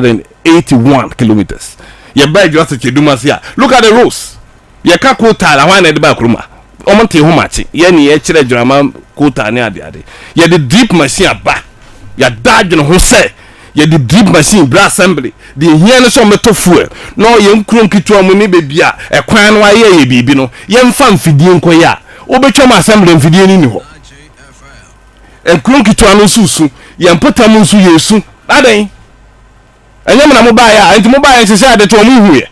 181 kilometers yɛ baa adwuma sɛ kyɛdum ase a look at the roads yɛ ka kotaal ahwan na yɛde baa kurom a wɔn nte ho makye yɛ ne yɛ kyerɛ adwuma kotaal ne ade ade yɛde drip machine aba yɛada adwene ho sɛ yɛde drip machine bra assembly deɛ ehia no sɛ wɔbɛtɔ fuel na ɔyɛ nkuro nketewa mu ne baabi a ɛkwan no ayɛ yɛ biribi no yɛmfa mfidie nkɔyɛ a wobɛtwam assembly mfidie no nni hɔ Nkuro nketewa no nso resu. Yɛn mpɔtam nso yɛresu. Adɛn? Ɛnyɛ mo na mobaeɛ a, enti mobaeɛ nhyehyɛ ade to wɔn, monhuiɛ?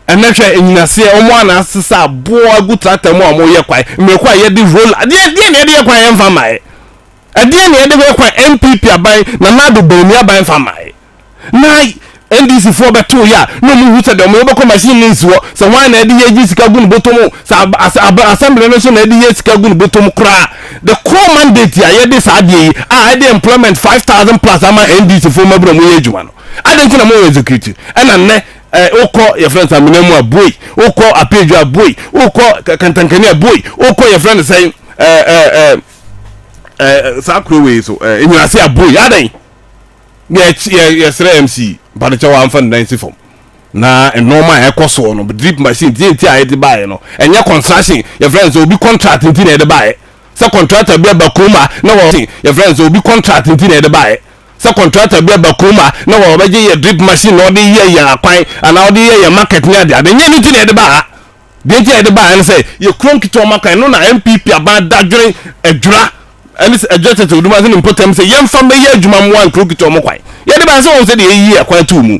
Ɛnnɛ hwɛ nnyinaseɛ, wɔn a na asesa aboɔ agu tractor mu a wɔreyɛ kwan, mmireko a yɛde roller, ɛdeɛn ɛdeɛn na yɛde yɛ kwan yɛmfa mmaeɛ? Ɛdeɛn na yɛde yɛ kwan NPP aban, Nana Addo Bawumia aban mfa mmaeɛ? na NDC foɔ bɛtoo yɛ a na ɔmo hu sɛ deɛ ɔmo yɛ bɛkɔ machine no nsi hɔ sɛ hwan na ɛde yɛ gye sika gu ne bɔtɔ mu sɛ ab as ab assembly no nso na ɛde yɛ sika gu ne bɔtɔ mu koraa the core mandate a yɛde saa adeɛ yi a ɛde employment five thousand plus ama NDC foɔ mmabura ɔmo yɛ adwuma no adɛn nti na mo yɛ execute ɛna nnɛ ɛɛ wokɔ yɛfrɛ no sɛ amena mu a boi wokɔ apedwa a boi wokɔ Ka- kantankani a boi wokɔ yɛfrɛ no sɛ ɛɛ ɛɛ ɛɛ ɛɛ saa kuro wei so ɛɛ enyinase a boi adɛn. yɛ yɛsrɛ MC mpa ne kyɛw amfa ne nan si fam na nneɛma a ɛkɔ soɔ no drip machine tie nti a yɛde baeɛ no ɛnyɛ construction yɛfrɛ no sɛ obi contract nti na yɛde baeɛ sɛ contractor bi aba kurom a na wɔ yɛfrɛ no sɛ obi contract nti na yɛde baeɛ sɛ contractor bi aba kurom a na wɔbɛgye yɛ drip machine na ɔde yɛ yɛ akwan anaa ɔde yɛ yɛ market ne adeade nyɛ no nti na yɛde baa Deɛ nti a yɛde baeɛ ne sɛ yɛkura nketewa maka, ɛno na NPP aban dadwene adwira ne adwira tɛtɛw dum ase ne mpɔtam sɛ yɛmfa mmɛyɛ adwuma mmoa nkuro nketewa mu kwan. Yɛde baeɛ sɛ wɔahu sɛdeɛ yɛyi akwan too mu.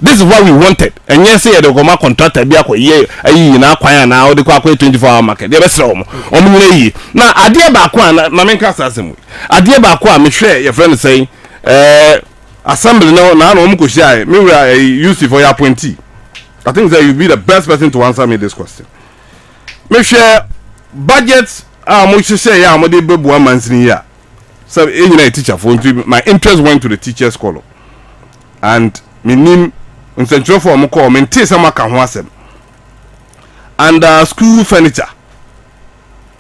This is what we wanted, ɛnyɛ sɛ yɛde rekɔma contractor bi akɔyɛ ayi nyinaa kwan anaa wode kɔ akɔyɛ 24 hour market. Yɛbɛsrɛ wɔn, wɔn nyina yie. Na adeɛ baako a, na ma menka saa asɛm wei, adeɛ baako a mehwɛɛ yɛfrɛ no sɛn ɛɛ assembly no na na wɔkɔhyiaeɛ, me wura ɛyi UC foɔ yɛ appointee. I think that you be the best person to answer me this question. Mehwɛ budget a mo hyehyɛ yɛ a mo de bɛbua mansini yi a sɛ e nyina yɛ teacher fo nti my interest went to the teachers column and menim nsɛntwerɛfoɔ a mo kɔɔ mentee sɛ moaka ho asɛm and uh, school furniture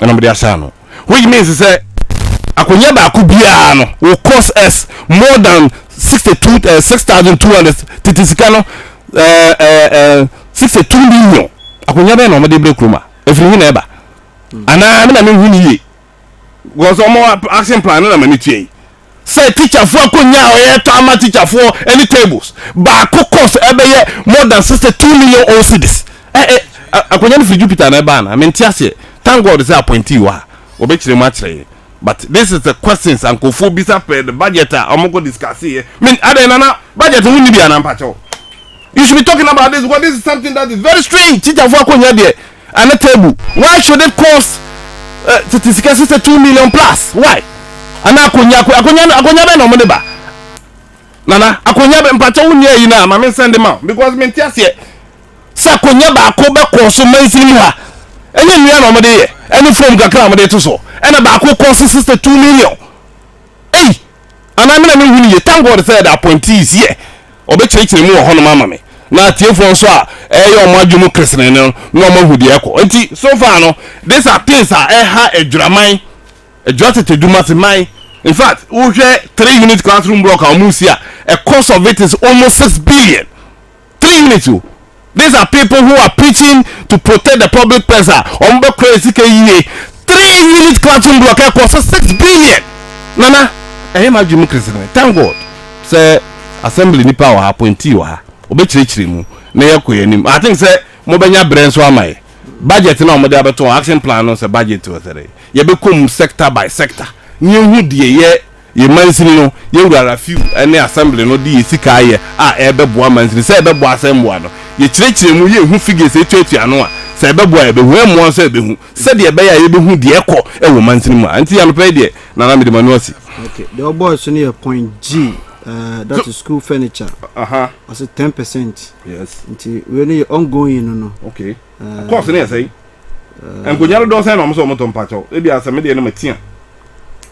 ɛna wɔde asaa no which means sɛ akonnwa baako biara no will cost us more than sixty two eh, six thousand two hundred tete sika no eh, eh, sixty two million akonnwa bɛyɛ na wɔde brɛ kurom a efiri hin na ɛba anaa mi na mi hu ni yie wɔn sɛ wɔn action plan no na ma mi tua yi. sɛ tikyafoɔ akonnya a ɔyɛtɔ ama tikyafoɔ ɛne tables baako cost ɛbɛyɛ more than sixty two million old cedis ɛ ɛ akonnya no firi Jupiter na ɛbaa na mente aseɛ thank God sɛ appointee wɔ ha ɔbɛkyerɛ mu akyerɛ yɛn but this is the questions a nkurɔfoɔ bisa pɛɛ the budget a wɔkɔ discuss yɛ men adɛn nana budget ho nni bi anaa mpakyɛw you should be talking about this because this is something that is very strange tikyafoɔ akonnya deɛ Ana table why should it cost eh, tete sika si sɛ two million plus why? Ana akonya ako- akonya no akonya bɛn na ɔmo de ba? Nana akonya bɛn mpakyɛ wo nia yi na ma me nsɛn de ma wo because me nte aseɛ sɛ akonya baako bɛkɔ so mansin mu ha ɛnyɛ nnua na ɔmo de yɛ ɛne foam kakra a ɔmo de to so ɛna baako cost sixty two million ei anaa me na me nhu no yie thank God sɛ the appointee is here ɔbɛkyerɛkyerɛ mu wɔ hɔnom ama me na atiefoɔ nso a ɛyɛ wɔn adwene mu keresene no na wɔn ahu deɛ ɛkɔ nti so far no this are things a ɛha adwuraman adwuratete dumaseman in fact wohwɛ three unit classroom block a wɔn resi a a cost of it is almost six billion. three units o these are people who are preaching to protect the public purse a wɔn bɛ kura sika yie three unit classroom block ɛkɔ so six billion nana ɛyɛ maa dwi mu kirisikiri thank god sɛ assembly nipa wɔ ha appointee wɔ ha ɔbɛkyerɛkyerɛ mu na yɛ kɔ yɛn anim i think sɛ mo bɛ nya brɛ nso ama yɛ budget na wɔn de abɛto action plan no sɛ budget wɔ sɛ de yɛ bɛ kɔ mu sector by sector ne ehu deɛ yɛ. Yɛn mansini no, yɛn wura Rafiu ne assembly no de yɛn sika ayɛ a ɛrebɛboa mansini. Sɛ ɛbɛboa a sɛ mmoa no. Yɛkyerɛkyerɛ mu, yɛnhu figures a ɛtuatua ano a, sɛ ɛbɛboa a yɛbɛhu, ɛmmoa nso a yɛbɛhu, sɛdeɛ ɛbɛyɛ a yɛbɛhu deɛ ɛrekɔ wɔ mansini mu a. Nti anɔpa yi deɛ, Nana mede m'ani asi. Okay, deɛ ɔbɔɔe so no yɛ point G, eh, that is school furniture. Aha. Ɔse ten percent. Yes. Nti wei no yɛ ongoing no no. Okay. Eh, Course no yɛ sɛn? Eh, Nkonnwa dodoɔ sɛn na wɔn sɛ wɔn tɔ mpakyɛw? Ebi asɛm deɛ no ma tia.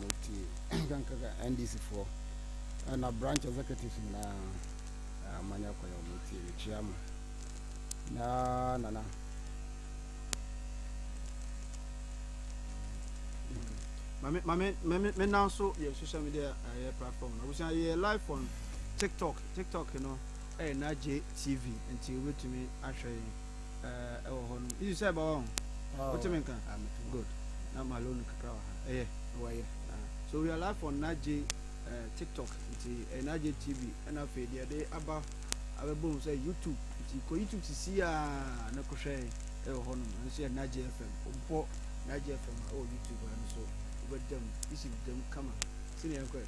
wɔn ti nkankaka ndc foɔ ɛna branch executives nyinaa amanya kwan a wɔn ti mekyia mo na nana mame mame mame me nan so yɛ social media ɛyɛ eh, platform na wosan yɛ live on tiktok tiktok no ɛyɛ na gye tv nti wobɛtumi ahwɛ yɛn ɛɛ ɛwɔ hɔ no isi sɛ ɛbɛwɔ ho oh, wote me nka good na ma loan kakra wɔ ha ɛyɛ ɛwɔ ɛyɛ ah, so we are live on nagye eh, tiktok nti eh, nagye tv ɛna afei deɛ ɛde aba abɛbɔ mu sɛ youtube nti kɔ youtube sisi a na kɔhwɛ ɛwɔ hɔ nom ɛno so yɛ nagye fm wobɔ nagye fm a ɛwɔ youtube a no so wobɛda mu isi da mu kama sɛnea ɛnkɔɛ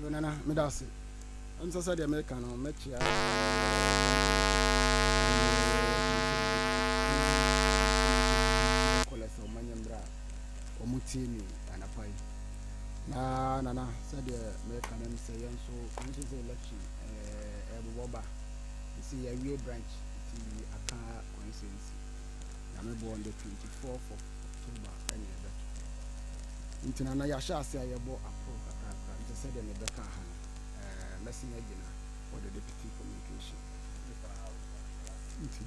yo nana meda ase Ɛnsɛ sɛ deɛ meka no mɛkyea ɛne kɔlɛ sɛ ɔma nyɛ mmerɛ a ɔmo tie mi anapa yi na nana sɛdeɛ meka no sɛ yɛn nso ɔmo sɛ sɛ election ɛbobɔ ba sɛ yɛawie branch ti aka consensi na mebɔ on the 24th of October ɛne ɛbɛto nti nana yɛahyɛ ase a yɛbɔ aporo kakrakra nti sɛdeɛ mebɛka ha no eh, mɛsi na gyina for the deputy communication. Nti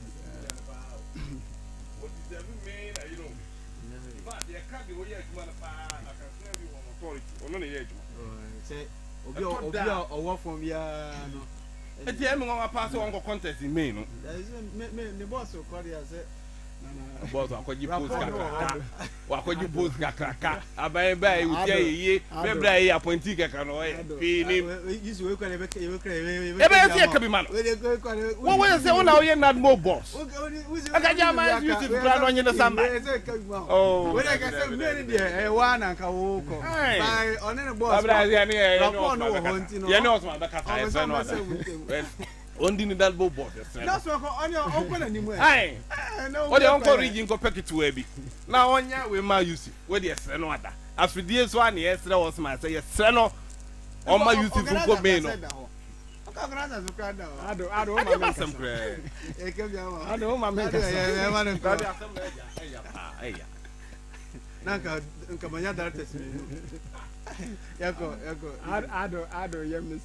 ɛti ɛmi nwa paa sɛ wɔn kɔ contest in May no. ne bɔs kɔ de ase. bɔs akɔgye post kakra. Wakɔgye post kakraka aban bɛ a ɛwɔ ti ayɛ yie bɛ bere a ɛyɛ apɔnti kɛkɛ no ɔyɛ hwee nim ɛbɛyɛ sɛ yɛka bi ma no wɔwɔ sɛ wo na woyɛ nadmo boss ɛka gya ma ɛsɛ yusuf kora no ɔnye ne samba yɛne ɔsoma bɛkasa ɛsɛ no ada Ɔndi ne dan bobɔ hwɛ sɛn no. Ae wodeɛ ɔnkɔ Ridge nkɔpɛ ketewaa bi na ɔnyɛ wei ma Usi wodeɛ srɛ no ada afidie so a na yɛsrɛ Osman sɛ yɛsrɛ no ɔma Usi fo nkɔ main no. Adeɛ ma asɛm koraa yi. Nanka nka manya directors mmienu. Yɛkɔ yɛkɔ. Ado ado yɛ miss.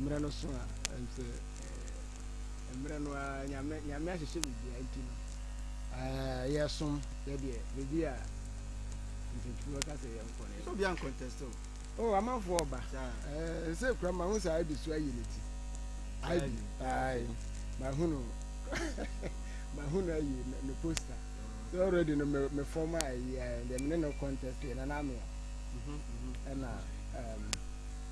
Mmerɛ no so a, nso mmerɛ no ara Nyame Nyame ahyehyɛ biribiara nti no, yɛsom sɛdeɛ baabi a nsɛmtwerɛ no ka sɛ yɛnkɔ no. So obi ancontest o? Oh, amanfoɔ ɔba. Ɛsɛ kura ma ho saa ibi so ayi ne ti. Ibi, ayi, ma ho no, ma ho no ayi ne poster. So already no me me form a ɛyi, ɛɛ, deɛ me ne no contest yɛ na na amea. Ɛna, ɛɛm.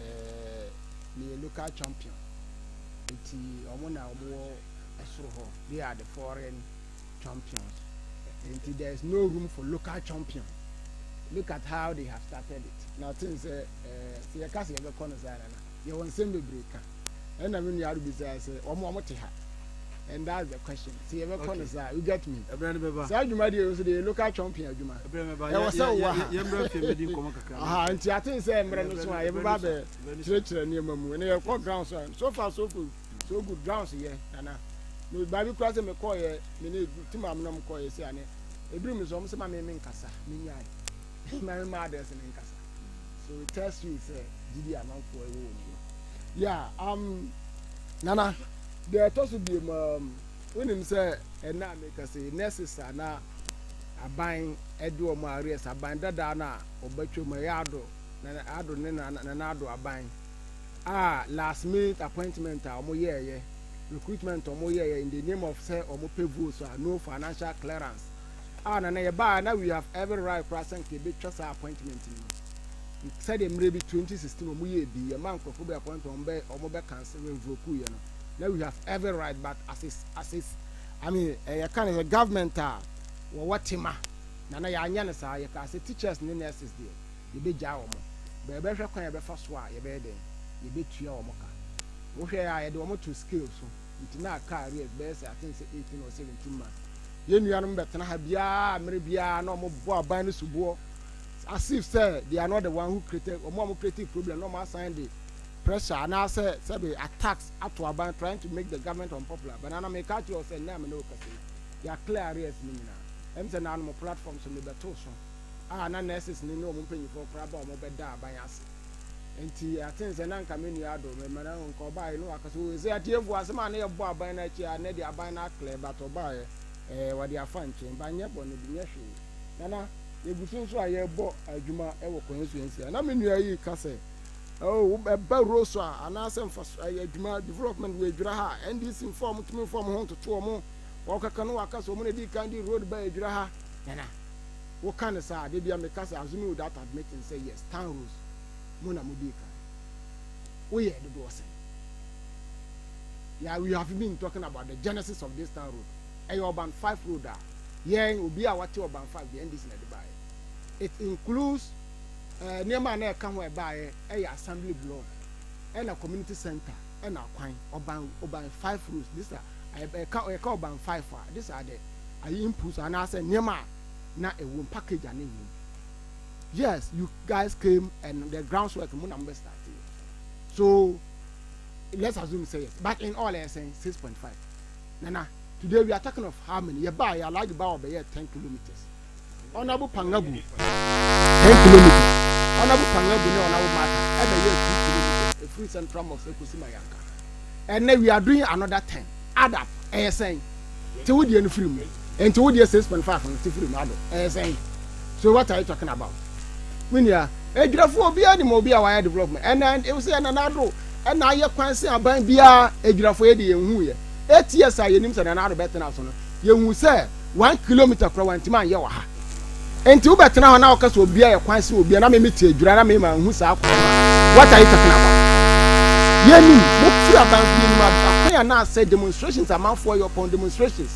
eh, meyɛ local champion nti wɔn na wɔn wɔ ɛsoro hɔ they are the foreign champions nti there is no room for local champion look at how they have started it na ɔte n sɛ eh, sɛ yɛka sɛ yɛbɛkɔ no saa na na yɛwɔ nsɛm bebree ka ɛna me nua ado bisaa sɛ wɔn a wɔte ha and that's the question ti yɛ bɛ kɔ no saa you get me saa adwuma deɛ nso deɛ local chomping adwuma ɛwɔ sɛ wowɔ ha aha nti ate sɛ mmerɛ no so a yɛbɛba bɛ kyerɛkyerɛ nneɛma mu ɛnna yɛkɔ ground so so far so good so good ground so yɛ nana me baabi kura sɛ mekɔɔyɛ me ne tim amonom kɔɔyɛ sɛ ane ebiri mu nso wɔn sɛ ma me me nkasa me nyae ma me ma adɛs ne nkasa So it tells you sɛ gyidi a amanfoɔ ɛwɔ wɔ mu no. Yeah, um, Nana, deɛ ɛtɔ so biem um, wonim sɛ ɛna a meka sɛ nurses a na aban ɛde wɔn a arrest aban dadaa no a ɔbɛtwam ɛyɛ ado na ado ne na nana ado aban a last minute appointment a wɔn yɛɛyɛ recruitment wɔn yɛɛyɛ in the name of sɛ wɔn pɛ votes a no financial clearance a na na yɛbaa na we have every right koraa sɛ nka yɛbɛtwa saa appointment no mu sɛdeɛ mmerɛ bi 2016 wɔn yɛɛ bi yɛma nkurɔfoɔ bi appointment wɔn bɛ wɔn bɛ cancel revoke yɛ no na we have every right but as is as is I mean ɛyɛ ka no sɛ government a wɔwɔ tema na na yɛanyɛ no saa yɛkaa sɛ teachers ne nurses deɛ yɛbɛgyaa wɔn bɛbɛhwɛ kwan yɛbɛfa so a yɛbɛyɛ dɛn yɛbɛtua wɔn ka wohwɛ a yɛde wɔn to scale so Nti na car rev bɛyɛ sɛ aten sɛ eighteen or seventeen months. Yɛn nuanom bɛtena ha biara mmere biara na wɔbɔ aban no soboɔ as if sɛ they are not the one who created wɔn a wɔn creative problem na wɔn asan de pressure anaasɛ sɛbe attacks ato aban trying to make the government unpopular but nana meka akyerɛ wo sɛ nnɛ a me ne wo kasa yi yɛ a clear arrears no nyinaa ɛm sɛ naanom platform so mebɛto so a na nurses ne ne wɔn mpanyinfoɔ koraa ba wɔn bɛda aban ase Enti aten sɛ na nka me nua adɔ me ma na nka ɔbaeɛ na waka sɛ o ɛsɛ atie mpo asɛm a na yɛbɔ aban no akyi a na de aban no aklɛ but ɔbaeɛ ɛɛ wɔde afa nkyɛn ba nyɛ bɔne bi nyɛ hwee na na yɛgu so nso a yɛbɔ adwuma wɔ constituency a na me nua yi ka sɛ oh ɛba wuro so a anaasɛ mfa ɛyɛ adwuma development wɔ adwira ha NDC mfa wɔn tumi mfa wɔn ho ntoto wɔn wɔkaka no waka sɛ wɔn na di kan di road ba adwira ha nana Wo ka no saa a, da bi a me ka sɛ assuming without admitting sɛ yes, tan Rose, mo na mo dii kan. Wo yɛɛ dodoɔ sɛn? Yeah, we have been talking about the genesis of this tan road. Ɛyɛ ɔban five road a, yɛn obi a wate ɔban five deɛ NDC na ɛde baeɛ. It includes eh, nneɛma a na ɛka ho a ɛbaeɛ ɛyɛ assembly block, ɛna community center, ɛna akwan, ɔban, ɔban five roads. This are, ɛka, ɛka ɔban five a, this are the, ayi inputs anaasɛ nneɛma a na ɛwom package a na ɛwom yes you guys came and the grounds work mo na mo bɛ start yɛ so let's assume say yes but in all ɛyɛ sɛn six point five nana today we are talking of how many yɛ baa yɛ alaji baa ɔbɛyɛ ten kilometres ɔnabu pangabu ten kilometres ɔnabu pangabu ne ɔnabu mata ɛbɛyɛ two kilometres efiri central mosque ekosi mayanka ɛnɛ we are doing another ten. Add up, ɛyɛ sɛn? Te wo deɛ no firi mu. Ɛnti wo deɛ six point five no te firi mu ado, ɛyɛ sɛn? So what are you talking about? Me nua, adwirafoɔ obiara nim obi a wayɛ development, ɛna wo sɛ ɛna na ado, ɛna ayɛ kwan sɛ aban biara, adwirafoɔ yɛ deɛ yɛnhuuɛ, eight years a yɛnim sɛ nana ado bɛtena so no, yɛhuu sɛ. One kilometer koraa wantumi anyɛ wɔ ha. Enti wobɛtena hɔ na woka sɛ obia yɛ kwan sɛ obia na me mete adwira na me manhu saa kwan no a, what are you talking about? Yɛnim, motu aban nso yɛnim akwan a na asɛe demonstrations amanfoɔ yɛ upon demonstrations.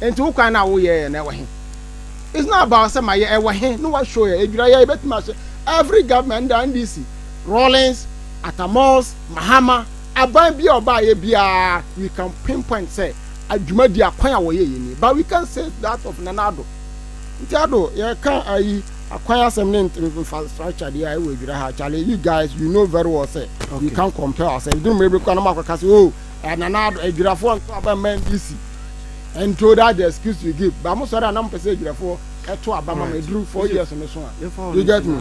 Enti wo kwan no a woyɛeɛ no ɛwɔ he? It's not about sɛ mayɛ ɛwɔ he na woashow yɛ adwira yɛ yɛbɛtumi ahyɛ every government under NDC, Rawlings, Atta Mills, Mahama, Aban bia ɔbaayɛ biara we can pinpoint sɛ dwumadi akwan a wɔyɛ yɛ nie but we can't say that of Nana Addo. Nti Addo yɛka ayi akwan asɛm ne infrastructure deɛ a ɛwɔ adwira ha kyale you guys you know very well sɛ we can't compare ourselves ɛduru mmerɛ bi kora na mo akɔka sɛ oh eh, Nana Addo adwirafoɔ nto aba mma NDC and so that's the excuse you give but mo sɔre a na mo pɛ sɛ adwirafoɔ ɛto aba ma ma ɛduru four years no so a you get me.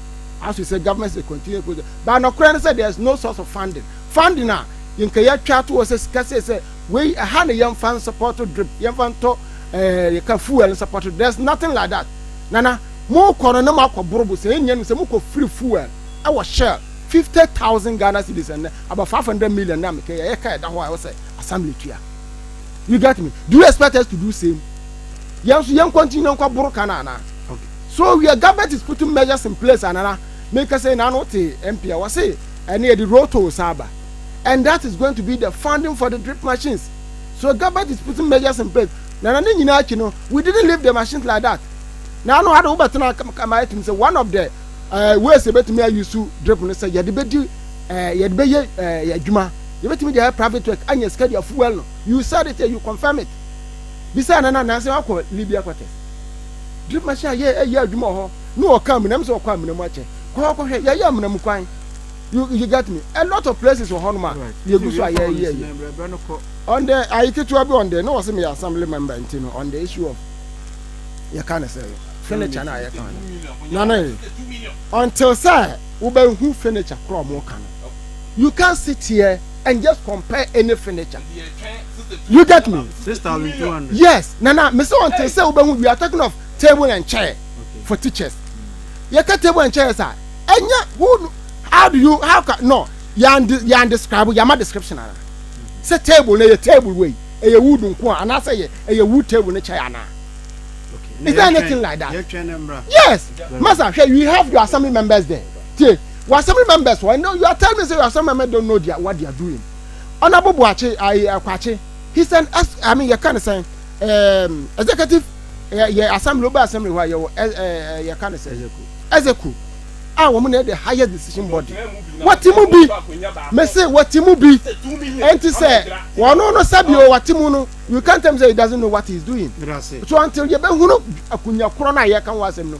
as we say government say continue project but nɔkorɛ no sɛ there is no source of funding funding a yɛnka yɛatwa ato hɔ sɛ sika sei sɛ wei ɛha na yɛmfa nsupɔto drip yɛmfa ntɔ ɛɛ yɛka fuel nsupɔto there is nothing like that nana mo kɔ no na mo akɔ borobo sɛ yɛn nyɛ no sɛ mo kɔ free fuel ɛwɔ shell fifty thousand ghana cedis ɛnɛ about five hundred million na mekɛ yɛ yɛka ɛda hɔ a ɛwɔ sɛ assembly tua you get me do you expect us to do same yɛn nso yɛn continue nkɔ boro kan anaa okay. So wia government is putting measures in place anana me kɛsɛ na no te MP a wɔse ɛne yɛde roto san ba and that is going to be the funding for the drip machines so government is putting measures in place nana ne nyinaa akyi no we didn't leave the machines like that na ano ade wobɛtena kama ɛtumi sɛ one of the uh, ways yɛbɛtumi ayi so drip no sɛ yɛde bɛdi uh, yɛde bɛyɛ uh, adwuma yɛbɛtumi de ayɛ private work anya sika de afuel no you said it you confirm it bisa nana nansi wakɔ libya quarters Drip machine a yɛ ɛyɛ adwuma wɔ hɔ ne wɔka amena mu sɛ wɔkɔ amena mu akyɛ kɔ hɔ kɔhwɛ yɛyɛ amena mu kwan you you get me a lot of places wɔ hɔnom a yɛgu so a yɛyɛ yɛ on the ayi ketewa bi on the ne wɔ sɛ meyɛ assembly member nti no on the issue of yɛka ne sɛ furniture no a yɛka no na ne until sɛ wobɛhu furniture korɔ ɔmo ka no you can't sit here and just compare any furniture you get me yes nana me sɛ ɔnte sɛ wobɛhu we are talking of table and chair for teachers yɛka table and chairs a ɛnyɛ who how do you how can no yɛn yɛn describe yɛma description ana sɛ table na ɛyɛ table wei ɛyɛ wood nko a anaasɛ ɛyɛ ɛyɛ wood table ne chair ana is there anything like that yes masa hwɛ you have your assembly members there tie your assembly members wɔ ɛnna you are telling me say your assembly members don't know their what they are doing. ɔna bobo akye ayi akwakye he send us i mean yɛka ne sɛn um, ehm, executive yɛ assembly oba assembly hɔ a yɛwɔ ɛɛ yɛka ne sɛn execu a wɔn na yɛ the highest decision body wɔte mu bi mese wɔte mu bi ɛnti sɛ wɔn no sɛbi o wɔte mu no you can't tell me say he doesn't know what he is doing so until yɛbɛhunu akunya korɔ no a yɛka ho asɛm no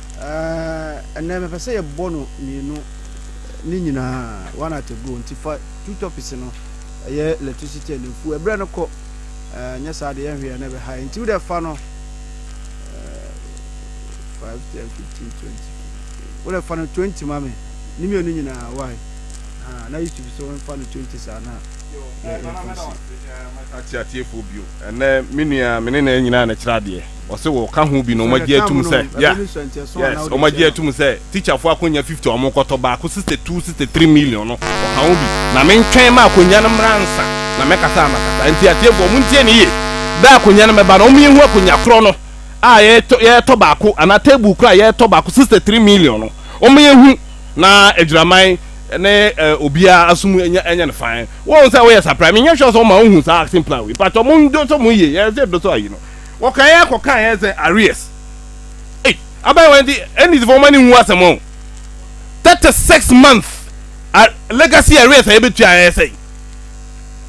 Eh, ɛnɛ mepɛ sɛ yɛbɔ no mmienu ne nyinaa one at a go nti fa two topics no ɛyɛ electricity and mfuo ɛberɛ no kɔ eh, nyɛ saa de yɛnhwɛ yɛ na ɛbɛha yɛ nti wodɛ fa no eh, 5 10 15 20 wodɛ fa no 20 ma me ne mmienu nyinaa wae ah, na yusuf sɛ wɔmfa no 20 saa na yɛkɔsi ateateafoɔ bio ɛnɛ me nua me ne na nyinaa na kyerɛ adeɛ Ɔse wɔka ho bi na ɔmo agye atum sɛ yeah yes ɔmo agye atum sɛ teacher fo akonya fifty a ɔmo kɔtɔ baako sixty two sixty three million no ɔka ho bi na me ntwɛn ma akonya no mmra ansa na mɛ kasa a mɛ kasa nti atiefo ɔmo ntie ne yie bɛ akonya no mɛba no ɔmo yɛ hu akonya korɔ no a yɛ tɔ yɛ tɔ baako ana table korɔ a yɛ tɔ baako sixty three million no ɔmo yɛ hu na agyiraman ne eh, obia asum anya anya ne fan wɔn sɛ wɔyɛ sapra me nyɛ sure sɛ ɔmo a ɔmo hu saa action plan wei patɔ ɔmo ndo so ɔmo yie yɛ sɛ do so ayi no. Wɔkae ara kɔkae ara sɛ Aries. Ei, abaayewa yi de Ennisfoɔ mma no nhu asɛm o. Thirty six months a legacy arrears a yɛbɛtua ɛyɛ sɛn?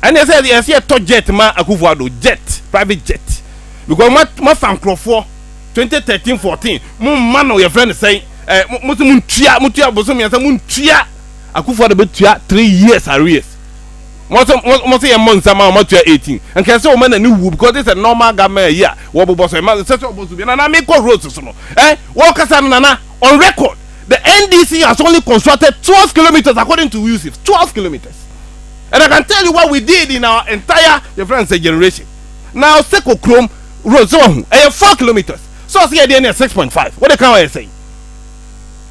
Ɛnneɛ sɛ ɛsɛ yɛtɔ jet ma Akufo Addo, jet, private jet. Because ma mafa nkurɔfoɔ twenty thirteen fourteen mo mma no yɛfrɛ no sɛn eh, mo mo sɛ mo ntua mo tua bosom mmiɛnsa mo ntua Akufo Addo bɛtua three years arrears. Wɔn sɛ wɔn wɔn sɛ yɛn mmɔ nsa ma wɔn atua eighteen. Nka ɛsɛ wɔn na ne wuo because this is a normal government ayi a wɔbobɔ so. Ɛma ɛsɛ sɛ wɔbɔ so bi. Nana me kɔ roads so no eh wɔkasa no Nana on record the NDC has only constructed twelve kilometres according to Yusuf twelve kilometres and I can tell you what we did in our entire your friend say generation na ɔsɛ kɔ kurom roads sɛ wɔn ho ɛyɛ four kilometres so ɔsɛ yɛ deɛ ne yɛ six point five wɔde kan wɔyɛ sɛn.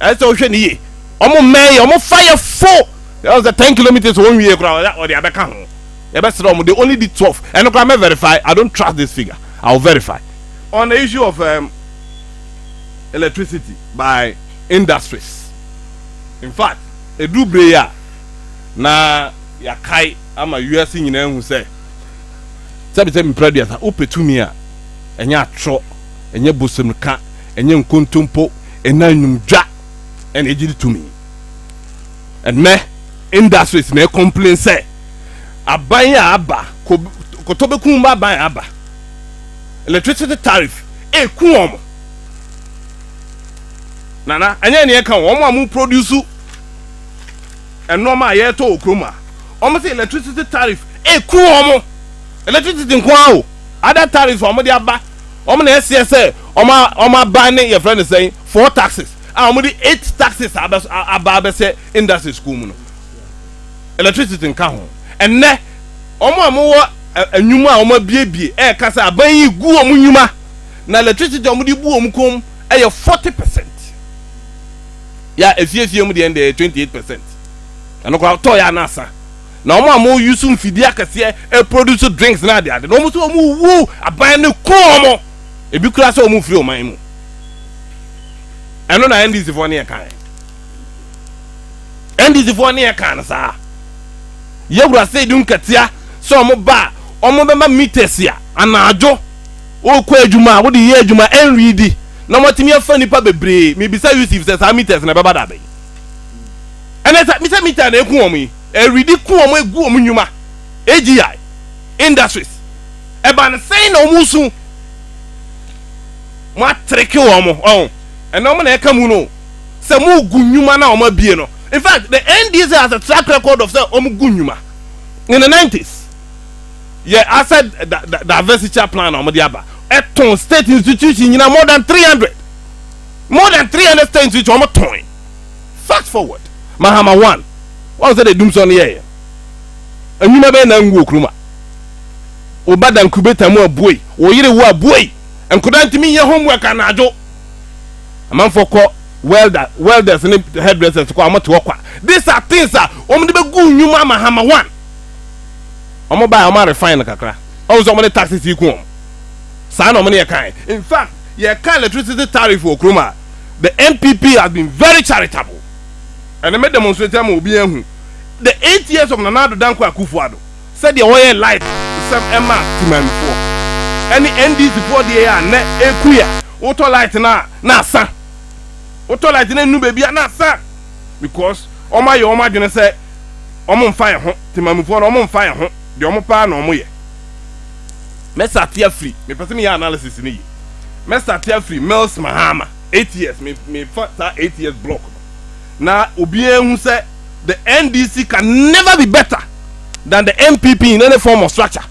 ɛsɛ sɛ wohwɛ ne yie ɔmo mmɛn yɛ ɔmo fa yɛ fo ɛwɔ sɛ ten kilometres wɔn wie kora ɔde abɛka ho yɛbɛ srɛ ɔmo de only di twelve ɛno kora mɛ verify I don't trust this figure I will verify on the issue of um, electricity by industries in fact edu bere yi a na yɛakae ama wiase nyinaa ehu sɛ sɛbi sɛ mpira duasa wopɛ tumi a ɛnyɛ atorɔ ɛnyɛ bosom ka ɛnyɛ nkontompo Ɛnna nnwom dwa na egye ne tumi. Ɛnnɛ, industries na ɛcomplain sɛ aban a aba, kɔtɔbɛkum mu aban a aba, electricity tariff, ɛreku wɔn. Nana, ɛnyɛ nea ɛka wɔn a wɔproduce nneɛma a yɛretɔ wɔ kurom a, wɔn sɛ electricity tariff ɛreku wɔn. Electricity nko ara o, other tariffs a wɔde aba wɔn na ɛseɛ sɛ wɔn aban ne yɛfrɛ no sɛn four taxes a wɔn de eight taxes abɛ aba abɛsɛ industry school mu no electricity nka ho ɛnɛ wɔn a wɔn wɔ ɛnwuma a wɔn abiebie ɛɛka sɛ aban yi gu wɔn nnwuma na electricity wɔn de bu wɔn kɔn ɛyɛ forty percent yɛ a efiefie mu deɛ ɛyɛ twenty eight percent ɛno koraa tɔ yɛ anasa. Na wɔn a wɔn use mfidie akɛseɛ ɛproduce drinks ne adeade no wɔn nso wɔn wu aban no ku wɔn ebi koraa sɛ wɔn firi ɔman mu ɛno na NDC foɔ ne yɛ kan NDC foɔ ne yɛ kan no saa yɛwura sɛ di nkatia sɛ wɔn ba a wɔn bɛma meters a anadwo wɔkɔ adwuma a wɔde yɛ adwuma ɛnwi di na wɔatumi afa nipa bebree mebisa Yusuf sɛ saa meters na ɛbɛba da bɛyi Ɛnɛ sɛ misa meter na eku wɔn yi, ɛredi ku wɔn egu wɔn nnwuma, AGI, industries. Ɛba no sɛn na wɔn resu? Wɔatreke wɔn, ɔho. Ɛnɛ wɔn na ɛka mu no o. Sɛ wɔregu nnwuma no a wɔn abue no, in fact the NDC has a track record of sɛ wɔn gu nnwuma. In the nineties, yɛ asset da, da, diversiture plan na wɔn de aba, ɛtɔn state institution nyinaa more than three hundred, more than three hundred state institution wɔn tɔn. Fast forward, Mahama won. Woahu sɛdeɛ Dumsor no yɛeɛ? Nnwuma bɛn na anwu wɔ kurom a? Wo ba da ncubator mu a, buei. Wo yere wo a, buei. Nkwadaa ntumi nyɛ homework anadwo. Amanfoɔ kɔ welder, welders ne hairdressers kɔ a, wɔte hɔ kwa. These are things a wɔde bɛgu nnwuma a Mahama won. Wɔn bae a, wɔn a refine no kakra. Woahu sɛ wɔn de taxes yi ku wɔn? Saa na wɔn ne yɛ kae. In fact, yɛka electricity tariff wɔ kurom a, the NPP has been very charitable ɛne me demonstrate ama obi ahu the eight years of Nana Addo Dankwa Akufo-Addo sɛdeɛ wɔyɛ life nsɛm ɛma Temanmufoɔ ɛne NDC foɔ deɛ a nɛ ɛku yɛ wotɔ light no a na asa wotɔ light no ɛnu baabi a na asa because wɔn ayɛ wɔn adwene sɛ wɔn mfa yɛ ho Temanmufoɔ no wɔn mfa yɛ ho deɛ wɔn paa na wɔn yɛ mɛsa ate afiri mepɛ sɛ meyɛ analysis no yie. mɛsate afiri Mills Mahama eight years me mefa saa eight years block no na obiara ehu sɛ the NDC can never be better than the NPP in any form of structure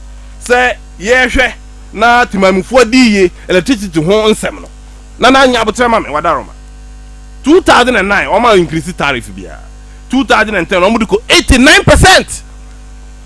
sɛ yɛhwɛ na temamufoɔ di yie electricity ho nsɛm no na na nya abotrɛ ma me wadaroma two thousand and nine wɔn a increase tariff biara two thousand and ten wɔn de kɔ eighty nine percent.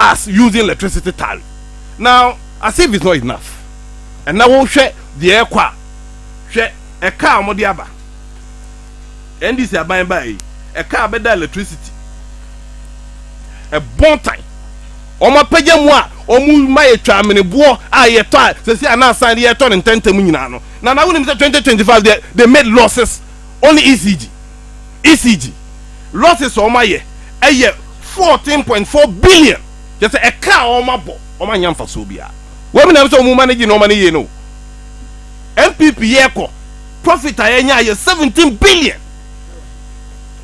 us using electricity tariff now as if it's not enough ɛna wo hwɛ deɛ ɛkɔ a hwɛ ɛkaa wɔn de aba NDC aban baa yi ɛkaa bɛda electricity ɛbɔntan wɔn apagya mu a wɔn ma yɛ twa ameniboɔ a yɛ tɔ a sɛsi a na asan de yɛ tɔ ne ntɛntɛm nyinaa no na na wo nim sɛ 2025 deɛ they made losses only ECG. ECG, losses a wɔayɛ yɛ fourteen point four billion, kyerɛ sɛ ɛka a wɔabɔ, wɔannya mfasoɔ biara. Wɔmenam sɛ wɔn manage nneɛma no yie no, NPP yɛkɔ, profit a yɛnya yɛ seventeen billion.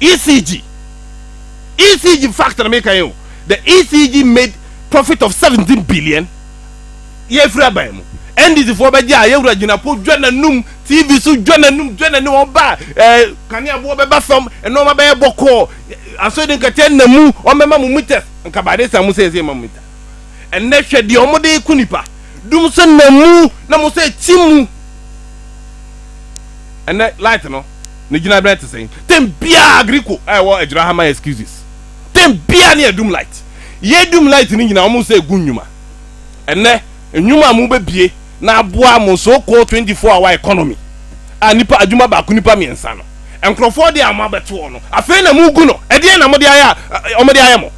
ECG, ECG fact na meka yi o, the ECG made profit of seventeen billion. yɛfiri aban mu NDC foɔ bɛgye a yɛwura gyinapo dwa n'anum TV so dwa n'anum dwa n'anum wɔn ba ɛɛ kaneaboɔ bɛba fam nneɛma bɛyɛ bɔkɔɔ asɔre nkɛtɛ na mu wɔn bɛma mo meters nka baade sa mo sɛ ɛsɛ ma mo mita ɛnɛ hwɛ deɛ wɔn de ko nipa dum so na mu na mo sɛ ti mu ɛnɛ light no ne gyina bɛn te sɛn tɛm biara agriko a ɛwɔ agyina ha ma excuses tɛm biara ne ɛdum light yɛ dum light ne nyina wɔn sɛ gu nnwuma. Ɛnnɛ, nnwuma a mubebue na aboa mo so-called twenty four hour economy a nipa adwuma baako nipa mmiɛnsa no, nkurɔfoɔ de a moabɛto hɔ no, afei na mugu no, ɛdeɛn na mode ayɛ a wɔde ayɛ mo?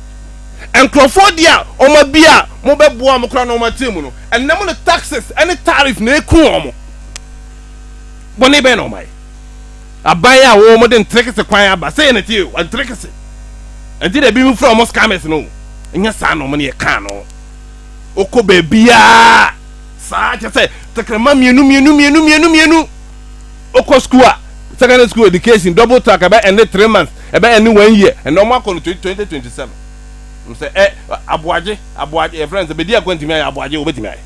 Nkurɔfoɔ de a wɔabue a mobɛboa wɔn koraa na wɔatena mu no, ɛnnɛ mode taxes ne tariff na ɛreku wɔn. Bɔne bɛn na wɔayɛ? Aban a wɔn de nterekese kwan aba sɛɛ na tie o nterekese nti na ebinom frɛ wɔn scammers no o ɛnyɛ saa na wɔn ne yɛ kaa no wokɔ baabiaa saa kyɛ sɛ tɛkrɛma mmienu mmienu mmienu mmienu mmienu wokɔ school a secondary school education double track ɛbɛ ɛne three months ɛbɛ ɛne one year ɛnna wɔn akɔ no twenty twenty twenty seven sɛ ɛ aboagye aboagye yɛ friends bɛdi akɔ ntumi ayɛ aboagye wɔbɛtumi ayɛ.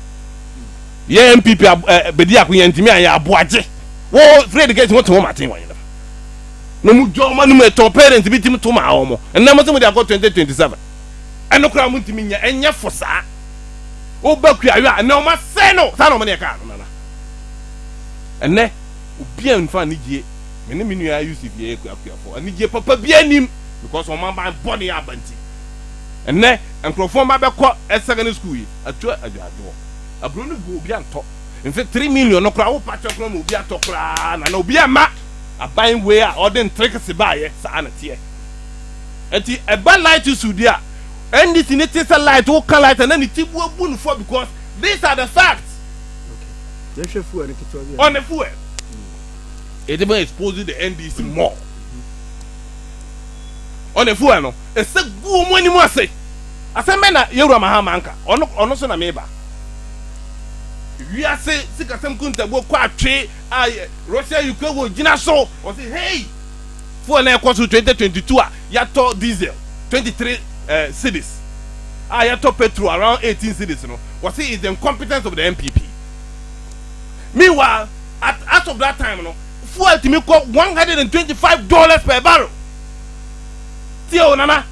Yɛn NPP ab ɛ bɛdi ako yɛntumi a yɛ aboa gye wo free education wo te wo maten wɔ yɛn fa na mu dwa ɔma no mu ɛtɔ parent bi tim to maa wɔ mo ɛnɛ mo se mo de akɔ 2027 ɛno koraa mo ntumi nyɛ ɛnyɛ fo saa wo ba kuayɔ a ɛnɛ ɔmo asɛe no saa na ɔmo ne ɛkaa no nana ɛnɛ obi a nfa anigye me ne me nua ayusi bi yɛ kuakuafo anigye papa bi anim because ɔmo aba bɔ ne yɛ aba nti ɛnɛ nkurɔfoɔ mma bɛkɔ ɛsɛgɛ ne school yi atua adwaadwoɔ. Aburo no gu obi antɔ nse three million no koraa wopa kyɛ koraa ma obi atɔ koraa na na obi ama aban wei a ɔde ntrikese baayɛ saa na teɛ nti ɛba light issue di a NDC ne te sɛ light woka light a na ne ti bu abu no fɔ because these are the facts yɛhwɛ fuel no ketewa bi on the fuel it even exposes the NDC more on the fuel no ɛsɛ gu wɔn anim ase Asɛm bɛn na Yawura Mahama nka? Ɔno ɔno so na meba. Wiase sikasɛm kuntabuo kɔ atwe a Russia Ukraine wɔ gyina so. Ɔse hey! Fuel na ɛkɔ so 2022 a yɛatɔ diesel 23 cedis a yɛtɔ petrol around 18 cedis no ɔse is the incompetence of the NPP. Meanwhile at as of that time no fuel tumi kɔ 125 dollars per barrel. Tie o Nana.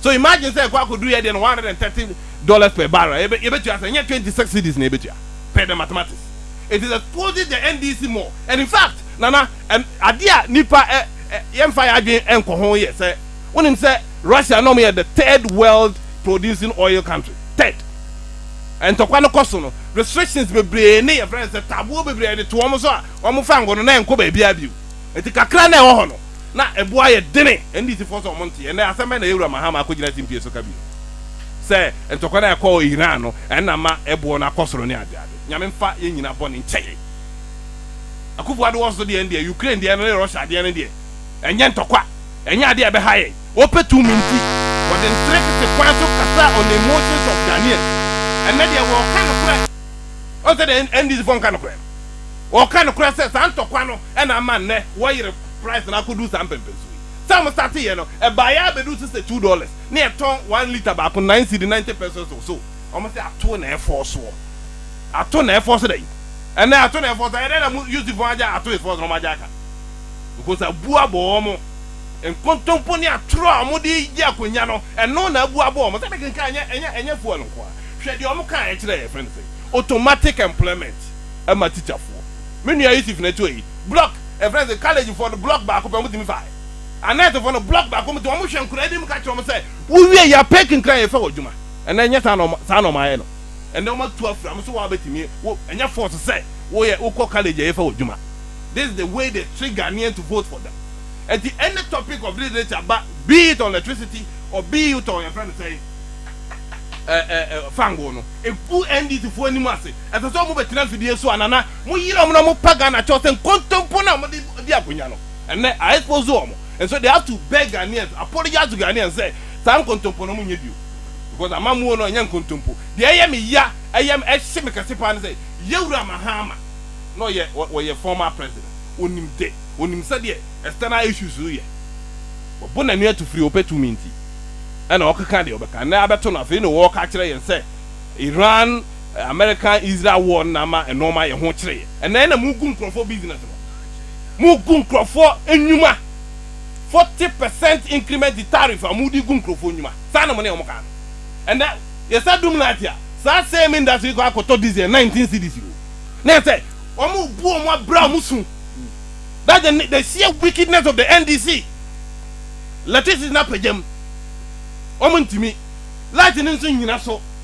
So imagine sɛ ɛkɔ akɔduru yɛ deɛ no one hundred and thirty dollars per barrel yɛbɛ yɛbɛtua sɛ ɛnyɛ twenty six cedis na yɛbɛtua pɛ the mathematics it is exposing the NDC more and in fact nana ɛn adeɛ a nipa ɛ ɛ yɛnfa yɛ adwene ɛnkɔ ho yɛ sɛ wonim sɛ Russia na wɔn yɛ the third world producing oil country third ntɔkwa no kɔ so no restrictions bebree ne yɛfrɛ no sɛ taboɔ bebree yɛde to wɔn so a wɔn fa ngo no na ɛnkɔ baabiara bio. Enti kakra na ɛwɔ hɔ no, na ɛbo ayɛ dene. NDCfoɔ sɛ wɔn nteɛ. Ɛnnɛ, asɛm bɛn na Yawura Mahama akɔgyina TMPA so ka bio? Sɛ ntɔkwa no a ɛkɔɔ Iran no, ɛno na ama ɛboɔ no akɔ soro ne adeade. Nyame mfa yɛn nyinaa bɔne nkyɛ yɛn. Akuffo Addo wɔsoso deɛ no deɛ, Ukraine deɛ no ne Russia adeɛ no deɛ, ɛnyɛ ntɔkwa. Ɛnyɛ adeɛ a ɛbɛha yɛn. Wɔpɛ tumi nti, wɔde nterekete kwan so kasa on the emotions of Ghanaians. Ɛnnɛ deɛ wɔreka nokorɛ. Woahu sɛdeɛ NDCfoɔ nka nokorɛ no? Wɔka nokorɛ sɛ saa ntɔkwa no na ama nnɛ wɔyere price no akɔduru saa mpɛmpɛnso yi. Sɛ wɔn starte yɛ no, ɛbaeɛ ara bɛduru so sɛ two dollars na yɛtɔn one litre baako nine cedi, ninety pesos or so. Wɔn se ato na ɛfɔɔ soɔ. Ato na ɛfɔɔ so dɛn? Ɛnnɛ ato na ɛfɔɔ so. Ɛyɛ dɛn na mo Yusuffoɔ agya ato is fɔɔ so na wɔn agya aka? Because abuo abɔ wɔn. Nkontompo ne atorɔ a wɔde regye akonnya no, ɛno na abuo abɔ wɔn. Sɛdeɛ kenkan, ɛnyɛ, ɛnyɛ, ɛnyɛ fuel nko ara. Hwɛ deɛ wɔn kaa, ɛkyerɛ, yɛfrɛ no sɛn? Automatic employment. ma tikyafoɔ. Me nua Yusuf na ɛtɔɔ yi. Block, yɛfrɛ no sɛ college foɔ no block baako pɛ wɔtumi faeɛ. Annette foɔ no block baako wɔtumi, wɔn hwɛ nkwadaa anim ka kyerɛ wɔn sɛ wowie yɛ pick nkran yɛfɛ wɔ adwuma. Ɛnɛ ɛnyɛ saa na wɔn saa na wɔn ayɛ no. Ɛnɛ wɔn atu afra wɔn so wɔn a bɛtumi wo ɛnyɛ force sɛ woyɛ wokɔ college a yɛfɛ wɔ adwuma. This is the way they trick Ghanaian to vote for them. Ɛnti any topic of this nature ba be it on electricity or be it on yɛfrɛ no sɛn ɛ ɛ ɛ fango no ɛgu NDC foɔ anim ase. Ɛsɛ sɛ wɔn bɛtena mfidie so anaa na mo yera wɔn na mo pa Ghana kyɛw sɛ nkontompo no a mode di akonya no ɛnnɛ a expose wɔn and so they have to beg Ghanaians, apologize to Ghanaians sɛ saa nkontompo no mo nyɛ bio because amammuo no ɛnyɛ nkontompo. Deɛ ɛyɛ me ya ɛyɛ me ɛhye me kɛse paa ne sɛ Yawura Mahama na ɔyɛ ɔyɛ former president ɔnim de ɔnim sɛdeɛ external issues yɛ wabo nani ato firi ɔpɛ tumi nti ɛna ɔkeka deɛ ɔbɛka ɛnnɛ abɛto no afei na ɔɔka akyerɛ yɛn sɛ Iran America Israel war no na ama nnoɔma yɛ ho kyere. Ɛnɛ na mogu nkurɔfoɔ business no. Mogu nkurɔfoɔ nnwuma. Forty percent increment tariff a mode gu nkurɔfoɔ nnwuma. Saa na mo ne wɔn kaa no. Ɛnɛ yɛsa dum laate a, saa same industry yi kɔ akɔtɔ diesel nineteen cedis o. Na ɛsɛ wɔn bu wɔn abira wɔn su. That's the ne the sheer wickedness of the NDC. Electricity no apagya mu. Wɔn ntumi. Light no nso nnyina so.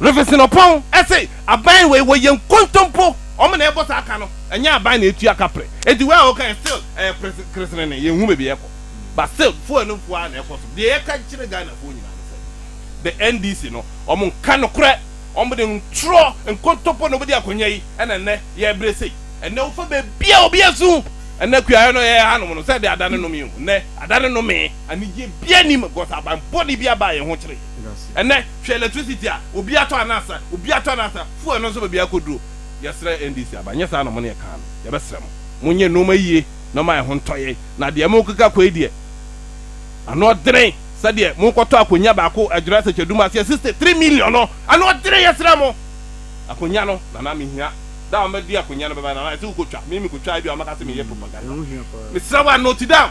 Rev Sinopɔn se aban wei wɔyɛ nkontompo, wɔn na ɛbɔ saa ka no, ɛnyɛ aban na ɛtua ka pre, enti wei a wɔka yɛ still ɛyɛ pre keresenene, yɛn hu baabi ɛkɔ, but still fuel no fuo ara na ɛkɔ so, deɛ yɛka kyerɛ Ghana foɔ nyinaa ne sɛ the NDC no wɔn nka nokorɛ, wɔn de ntorɔ, nkontompo na wɔn bɛdi akonya yi, ɛna nnɛ yɛbrɛ sei, ɛnɛ wofa baabiara obi asu, ɛnɛ kuayɛ no yɛyɛ hanom no sɛ ɛde adane nome o, nnɛ adane nome. Anigyeɛ biara nnim because aban bɔne biara baa yɛn ho kyere. Ɛnnɛ hwɛ electricity a obiara tɔ anaa sa, obiara tɔ anaa sa, fuel no nso baabiara kɔduro. Yɛsrɛ NDC aba, nyɛ saa na mo ne yɛkaa no, yɛbɛsrɛ mo, monyɛ nnoɔma yie na momma yɛn ho ntɔ yɛn, na deɛ morekeka akɔ yi deɛ, ano ɔdene sɛdeɛ morekɔtɔ akonnwa baako Adwiri Asɛkyɛ Dum aseɛ 63 million no, ano ɔdene, yɛsrɛ mo, akonnwa no, Nana mehia, da a wɔbɛde akonnwa no bɛba, Nana yɛse wokɔtwa, me mekɔtwaa ebia wɔbɛka sɛ meyɛ propaganda, mesrɛ wo a note down.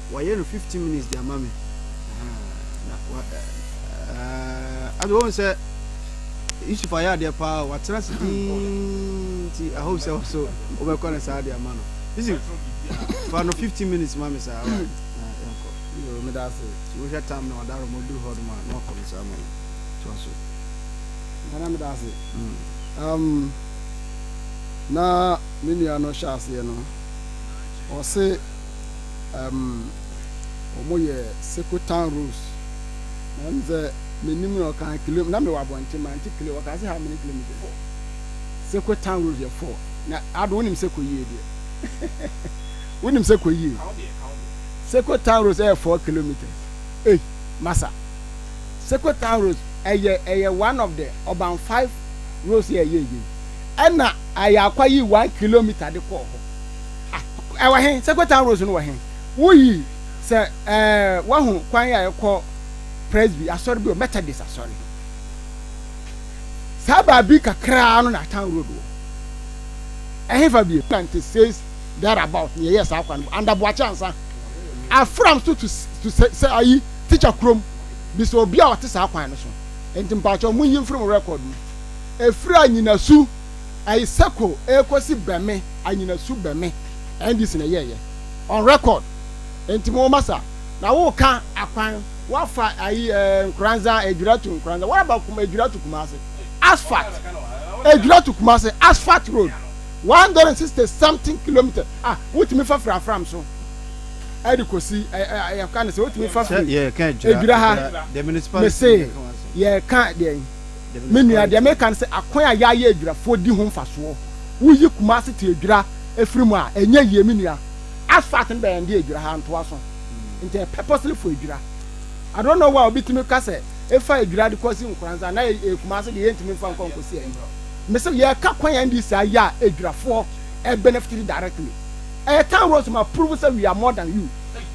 wɔayɛ no fifteen minutes de ama me na wa ɛɛ ɛde wɔn sɛ yusuf ayɛ adeɛ paa watena se dii ti i hope sɛ ɔso wɔbɛkɔ ne saa de ama no yusuf fa no fifteen minutes ma me saa wa ɛnkɔ meda ase wohwɛ tam na ɔda rɔmɔ duru hɔ nom a na wakɔ no saa ma me toa so nana meda ase um, na me nua no hyɛ aseɛ no ɔse um ɔmo yɛ Sekotan Road na me sɛ menim na ɔka kilo na mewɔ abɔnten mante kilo ɔka sɛ how many kilometers Sekotan Road yɛ four na ado wonim Seko yie deɛ wonim Seko yie Sekotan Road ɛyɛ four kilometers ei masa Sekotan Road ɛyɛ ɛyɛ one of the ɔban five roads yɛ ɛyɛ yie ɛna ayɛ akwa yi one kilometer de kɔɔ hɔ Ah, ɛwɔ he? Secretary Rose no wɔ he? Woyi sɛ ɛɛ wahu kwan a ɛkɔ Presby asɔre bi wɔ Methodist asɔre he. Saa baabi kakraa no na Town Road wɔ. Ɛhefa bie? Ninety six there about na yɛyɛ saa kwan no under Boakye ansa. Afram so to to sɛ sɛ ayi teacher kurom bi sɛ obi a ɔte saa kwan no so. Nti mpakyɛw mo yi mfiri mo record mu. Efiri anyinasu. ɛyɛ circle ɛrekɔsi bɛme anyinasu bɛme ndc na ɛyɛɛyɛ on record nti mo ma sa na wo ka akwan wafa ayi ɛɛ nkoranza adwira to nkoranza what about kuma adwira to kumase asphalt adwira to kumase asphalt road 160 something kilometer ah wotumi fa firi afram so ɛde kɔsi ɛyɛ ka ne sɛ wotumi fa firi adwira ha mese yɛ ka deɛ Me nua, deɛ mereka ne sɛ akwan a yɛayɛ adwirafoɔ di ho mfasoɔ. Woyi Kumasi to adwira afiri mu a, ɛnyɛ yie, me nua. Asphalt no bɛyɛ nde adwira ha ntoa so nti ɛyɛ purposely for adwira. I don't know why obi tumi ka sɛ efa adwira de kɔsi Nkoranza na yɛ Kumasi deɛ yɛntumi mfa nkɔ nkɔsi ayi. Mese yɛreka kwan a NDC ayɛ a adwirafoɔ benefitiri directly. Ɛyɛ town roads ma prove sɛ we are more than you.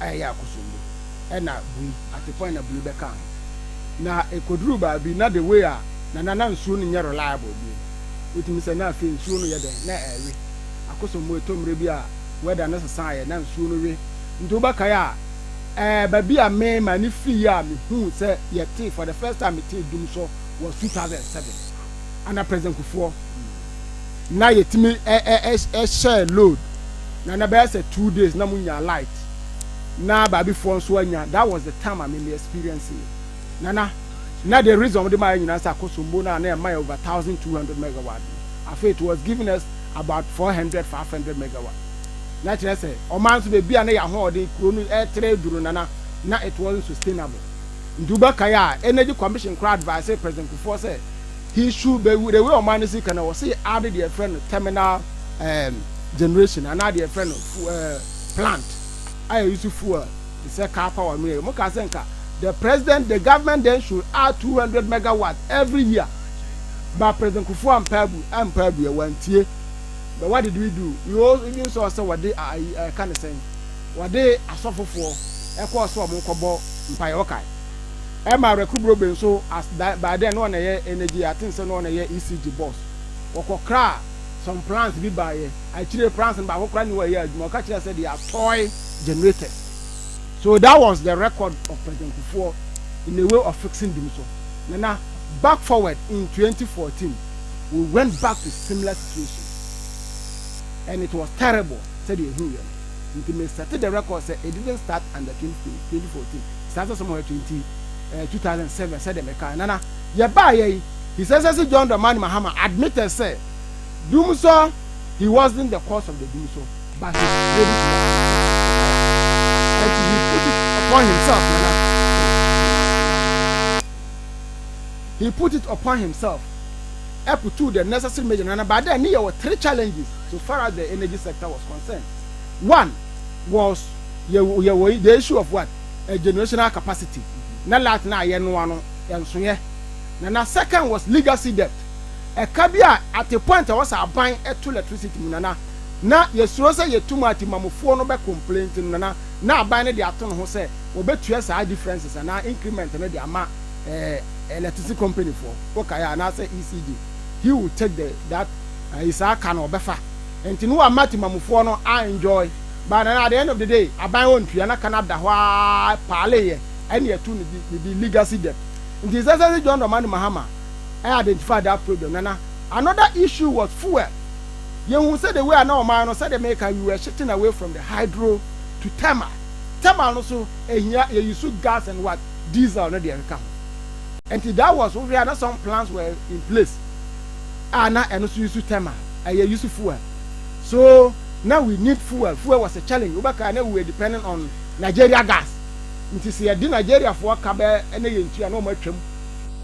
a ɛyɛ akosombo na bui, atepɔn na bui bɛka ho. Na ekoduru baabi na the way a na na na nsuo no nyɛ reliable bio no, wotumi sɛ na afei nsuo no yɛ dɛn? Na ɛrewe. Akosombo ɛtɔ mmerɛ bi a weather no sesaeɛ na nsuo no we. Nti wobɛkae a, ɛɛ baabi a me m'ani firi yɛ a mehuu sɛ yɛtee for the first time metee dum sɔ was two thousand and seven. ana president kufoɔ na yɛtumi ɛhyɛɛ load na na bɛyɛ sɛ two days na munya light na baabifoɔ nso anya that was the time a meme experience yi nana na the reason wɔde maa yɛ nyinaa sɛ akosombo no a na ɛma yɛ over thousand two hundred megawatt afei it was giving us about four hundred five hundred megawatt na kyerɛ sɛ ɔman nso baabi a na yɛ ahoɔden kuro no ɛtere duro nana na it wasn't sustainable Nduba kae a Energy Commission koraa advisee President Kufuor sɛ he should be the way ɔman no si ka no ɔse add deɛ yɛfrɛ no terminal um, generation anaa deɛ yɛfrɛ no fu, uh, plant a ɛuse fuel te sɛ car power no yɛ. Wɔn kaa sɛ nka the president, the government then should add 200 megawatt every year. But President Kufuor ampa abu, ampa abu ɛ, wantie. But what did we do? We all even saw sɛ wɔde ayi ɛka ne sɛn, wɔde asɔfofoɔ ɛkɔɔ sɛ wɔn kɔbɔ mpae ɔkae. Ɛma Awereku Brobe nso as that by then na ɔna ɛyɛ energy I think sɛ na ɔna ɛyɛ ECG boss. Wɔkɔ kraa some plans bi baeɛ akyire plans no baako koraa ni hɔ a ɛyɛ adwuma ɔka kyerɛɛ sɛ they are toy generators so that was the record of President Kufuor in a way of fixing bi nso Nana back forward in 2014 we went back to similar situation and it was terrible sɛdeɛ ɛhuiɛ no. nti me sɛte the record sɛ it didn't start under twenty twenty twenty fourteen saa sɛ sɔmɔ yɛ twenty ɛɛ two thousand seven sɛdeɛ me kaa nana yɛ baa yɛ yi his excellence John Dramani Mahama admitted sɛ dumsɔ he wasn't the cause of the dumsɔ but his credit and he put it upon himself nana he put it upon himself ɛkutu the necessary measure nana baada ne yɛ wɔ three challenges. so far as the energy sector was concerned, one was yɛwɔ yɛwɔ the issue of what a generational capacity na light na yɛnoa no ɛnso yɛ na na second was legacy debt ɛka bi a at a point a wɔsɛ aban ɛto electricity mu nana na yɛsuro sɛ yɛtum ati mamufoɔ no bɛ complain nti no nana na aban no de ato no ho sɛ wɔbɛtua saa differences anaa increment no de ama ɛɛ electricity company foɔ wokaeɛ anaasɛ ECG. he will take the that ɛyi saa ka no ɔbɛfa nti no wama timamufoɔ no a enjoy but na at the end of the day aban wɔn ntua na ka no ada hɔ aa paale yɛ ɛne ɛtu no di ne di legacy debt nti sɛ sɛ John Dramani Mahama ɛ identify that problem nana another issue was fuel yɛn hu sɛ the way a na ɔman no sɛdeɛ meka we were shifting away from the hydro to thermal thermal no so ehia yɛyi so gas and what diesel no deɛ ɛkeka ho. Nti that was wohwɛ a na some plans were in place a na ɛno nso use thermal ɛyɛ use fuel so na we need fuel fuel was a challenge wobɛka na we were depending on Nigeria gas nti sɛ yɛde Nigeriafoɔ ka bɛ na yɛntua na wɔn atwam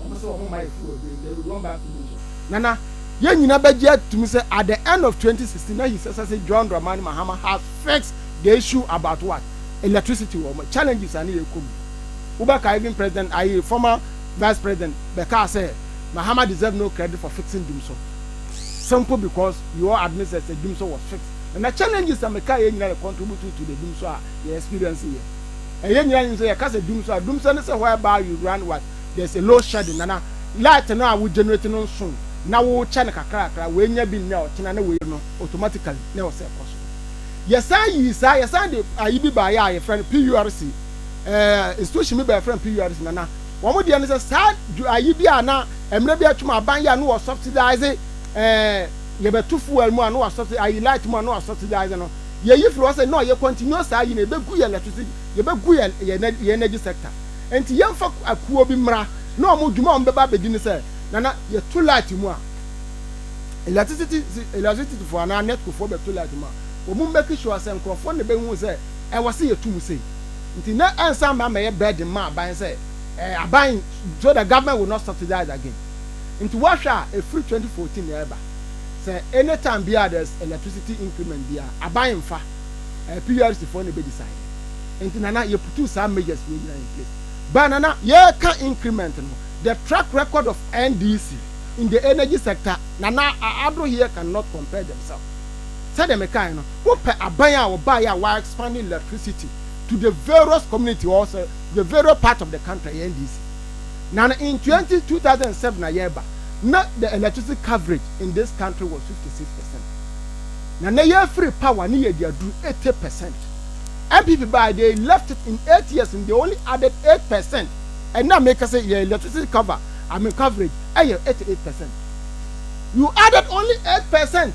wɔn sɛ wɔn ma yɛ fuel bio then we went back to Mosho. Nana, yɛn nyina bɛgye atum sɛ at the end of 2016 na His Excellency John Dramani Mahama has fixed the issue about what? Electricity wɔ wɔn challenges a na yɛkɔ mu. Wobɛkae even President Aye, former Vice President, bɛkaa sɛ Mahama deserve no credit for fixing Dumso simple because you all admit sɛ sɛ Dumso was fixed na na challenges a mekaeɛ nyinaa yɛ contributory to the Dumso a yɛ experience yɛ. Ɛyɛ nyinaa nim sɛ yɛka sɛ Dumso a, Dumso ne sɛ whereby you run what there is a load shedding nana light no a wo generate no nso na wo kyɛ no kakrakra wei nyɛ bi nnɛ ɔkyena na wei no automatically na ɛwɔ sɛ ɛkɔ so. Yɛsan yii saa, yɛsan de ayi bi baeɛ a yɛfrɛ no PURC. ɛɛ station bi bɛyɛ fɛn PURC na na wɔn deɛ no sɛ saa ayi bi a na mmerɛ bi atwam aban yɛ a no wɔ subsidize ɛɛ eh, yɛbɛto fuel mu a no wɔ subsidize ayi light mu a no wɔ subsidize no yɛyi firi hɔ sɛ na ɔyɛ continue saa ayi no yɛbɛgu yɛ electricity yɛbɛgu yɛ yɛ energy sector nti yɛmfa akuo bi mmra na wɔn dwuma a wɔn bɛba abɛdi no sɛ nana yɛto light mu a electricity electricity foɔ anaa netco foɔ bɛto light mu a wɔn mmɛki sure sɛ nkurɔfoɔ na ɛbɛhu sɛ ɛwɔ sɛ yɛtu mu sei nti na ɛnsan mma mmɛyɛ burden mma aban sɛ eh, aban so the government will not subsidize again nti woahwɛ a ɛfiri 2014 na ɛreba sɛ any time biara there's electricity increment biara aban mfa eh, PURC foɔ na ɛbɛ decide nti nana yɛputuu saa measures wei nyinaa in place baa nana yɛreka increment no the track record of NDC in the energy sector nana Addo here cannot compare themselves Sɛdeɛ mekaeɛ no, wopɛ aban a wɔbaeɛ a wɔa expand electricity to the various community or sɛ the various part of the country ɛyɛ NDC. Na no in twenty, two thousand and seven a yɛreba na the electricity coverage in this country was fifty six percent. Na nnɛ yɛafiri power ne yɛde aduru eighty percent. NPP baeɛ they left it in eight years no they only added eight percent. Ɛnnɛ a meka sɛ yɛn electricity cover, I mean coverage, ɛyɛ eighty eight percent. You added only eight percent.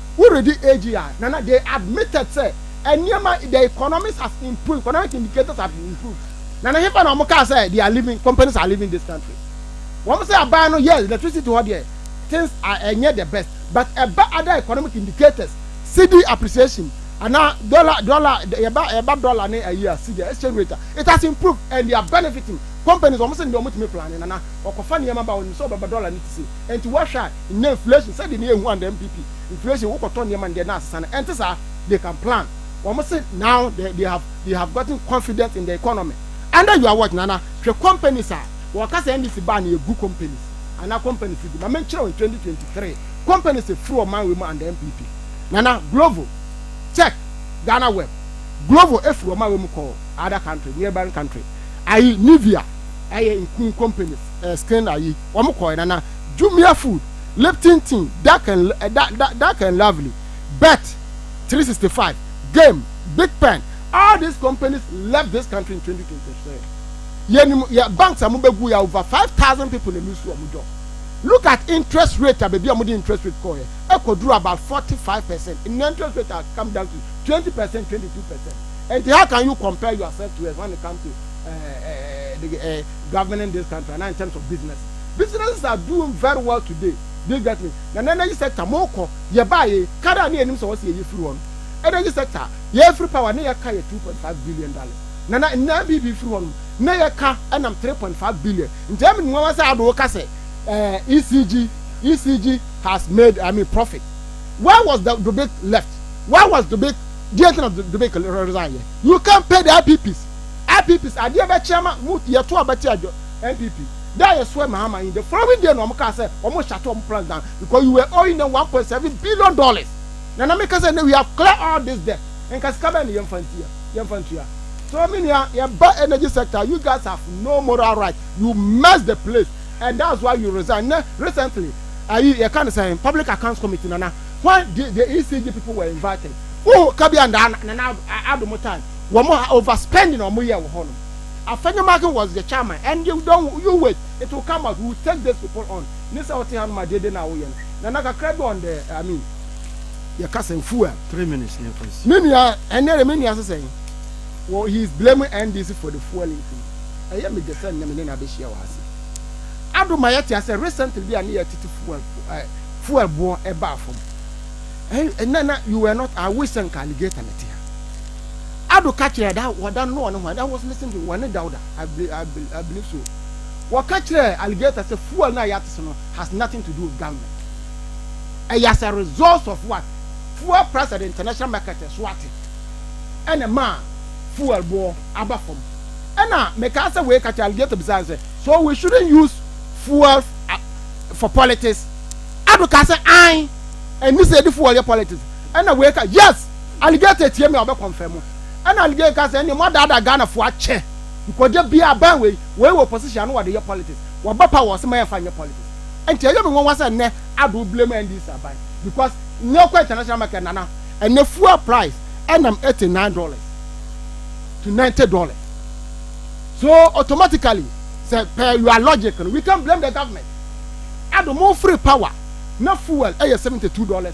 Woredi AG a, Nana, they admitted sɛ nneɛma, the economics has improved, economic indicators have improved. Nana, hefa na wɔn kaa sɛ they are leaving, companies are leaving this country? Wɔn sɛ aban no, yes, electricity hɔ deɛ, things are, ɛnyɛ the best, but ɛba other economic indicators, cedi appreciation, anaa dollar, dollar, yɛba, yɛba dollar ne ayi a, cedi, exchange rate a, it has improved and they are benefiting. Companies, wɔn sɛ deɛ wɔtumi plane, Nana, wɔkɔfa nneɛma ba, wɔnim sɛ wɔbɛba, dollar no te sei, ɛnti woahwɛ a, Nnɛ inflation sɛdeɛ ne yɛhu a ndɛ NPP inflation wokɔtɔ nneɛma ndɛ na asesa no ɛnte saa they can plan wɔn se now they they have they have gotten confident in the economy under your watch Nana hwɛ companies a wɔka sɛ NDC baa no yɛ gu companies anaa companies gu ma menkyerɛ wo in twenty twenty three companies firi ɔman wei mu under NPP Nana Glovo check Ghana web Glovo efiri ɔman wei mu kɔɔ other country neighbouring country ayi Nivea ɛyɛ nku companies ɛɛ skin ayi. wɔn kɔɛ na na jumia food lipton tea dark and eh, da, da, dark and lovely bet 365 game big pen all these companies left this country in 2023 yɛnim yɛ banks a mobɛgu yɛ over 5000 people na ɛlusu wɔn job look at interest rate a baabi a mode interest rate kɔɛ ɛkɔduru about 45 percent nnɛ interest rate has come down to 20 percent 22 percent and how can you compare yourself to us when it comes to uh, uh, uh, uh, governing this country anaa in terms of business businesses are doing very well today do you get me na na energy sector mo kɔ yɛ baa yɛ kar a ne yɛ nim sɛ wɔsi yɛ yɛ firi hɔ no energy sector yɛ firi power ne yɛ ka yɛ two point five billion dollars na na nna bibi firi hɔ no ne yɛ ka ɛnam three point five billion nti ɛmi ni wɔn sɛ adoo ka sɛ ɛɛ ECG ECG has made I mean profit where was the Dubik left where was Dubik deɛ ntina Dubik resign yɛ you can't pay the IPPs. IPPs adeɛ bɛkye ama mo yɛto aba tia dwo NPP da a yɛsoɛ Mahama in the following day na wɔn kaa sɛ wɔn shut wɔn plans down because you were owing them one point seven billion dollars na na meka sɛ nnɛ we have clear all this debt nka sika bɛn na yɛmfa ntia yɛmfa ntua so me nua yɛba energy sector you guys have no moral right you mess the place and that's why you resign nnɛ recently ayi yɛka no sɛ public accounts committee nana when the, the ECG people were invited wohu ka bi a nana adomo time Wɔn a over spending a wɔn yɛ wɔ hɔ no, afɛ no market was the chairman and you don you wait it will come out we will take these people on ne sɛ ɔte ha no ma deɛ de na awoyɛ no na na kakra bi on the I mean yɛ kasa fuel. Three minutes ne kɔ nsi. Me nua ɛnɛ de me nua sɛ sɛn wɔ he is blaming NDC for the fuel increase ɛyɛ me de sɛ nnɛ me ne na abɛhyia wɔ ha se ado ma yɛte asɛ recently bi a ne yɛ tete fuel eh, fuel boɔ ɛbaa fam ɛnɛ na you were not I wish sɛ nka alligator na te ha. Ado ka kyerɛɛ da wɔda no na wɔne hwan? I was listening to wɔne Dauda, I, be, I, be, I believe so. Wɔka kyerɛɛ alligator sɛ fuel no a yɛate so no has nothing to do with government. Ɛyɛ as a result of what? Fuel price at the international market so ate. Ɛna ma fuel boɔ aba fam. Ɛna mekaa sɛ wei ka kyerɛ alligator bisaa sɛ so we shouldn't use fuel for politics? Ado ka sɛ an ɛni sɛ yɛde fuel yɛ politics. Ɛna wei ka yes Alligator tie me a ɔbɛ confirm mo ɛna alligator ka sɛ ɛneɛ mo adaadaa Ghana foɔ akyɛ nkɔgya biaa bɛn wei wei wɔ position ano wɔde yɛ politics wɔba power ɔse ma yɛnfa nyɛ politics ɛnti ɛyɛ me nwanwa sɛ nnɛ ado wo blame NDC aban because nnɛ ɔkɔ international market nana ɛnɛ fuel price ɛnam eighty nine dollars to ninety dollars so automatically sɛ per your logic no we can blame the government ado mo free power na fuel ɛyɛ seventy two dollars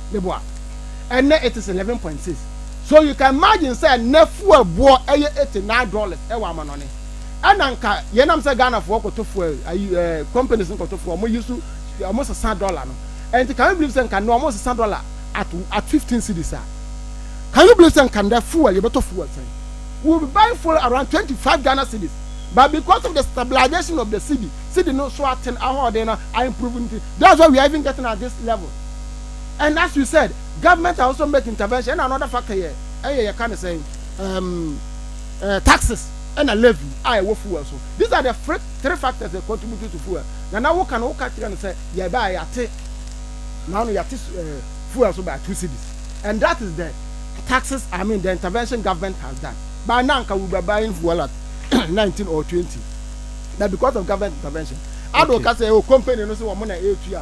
ne bo a ɛnɛ it is eleven point six so you can imagine sɛ nɛ fuel boɔ ɛyɛ eighty nine dollars ɛwɔ amanɔne ɛna nka yɛn nam sɛ Ghana foɔ kɔtɔ fuel ayi ɛɛ eh, companies nkɔtɔ fuel wɔn yi so wɔn sesa dollar no ɛnti can you believe sɛ nka nɛ wɔn sesa dollar at at fifteen cedis a can you believe sɛ nka nɛ fuel yɛbɛtɔ fuel sɛn we will be buying fuel around twenty five Ghana cedis but because of the stabilization of the cedi cedi no so aten ahoɔden na I improve nti that's why we are even getting at this level. and as you said government are also make intervention ɛna another factor yɛ ɛyɛ yɛ ka ne sɛn um, uh, taxes ɛna levy a ɛwɔ fuel so these are the three, three factors that contribute to fuel na na woka no woka kyerɛ no sɛ yɛ baa yɛate na ano yɛate uh, fuel so by two cities and that is the taxes i mean the intervention government has done by na anka we were buying fuel at 19 or 20 but because of government intervention ado okay. ka sɛ o oh, company no sɛ wɔn na ɛtua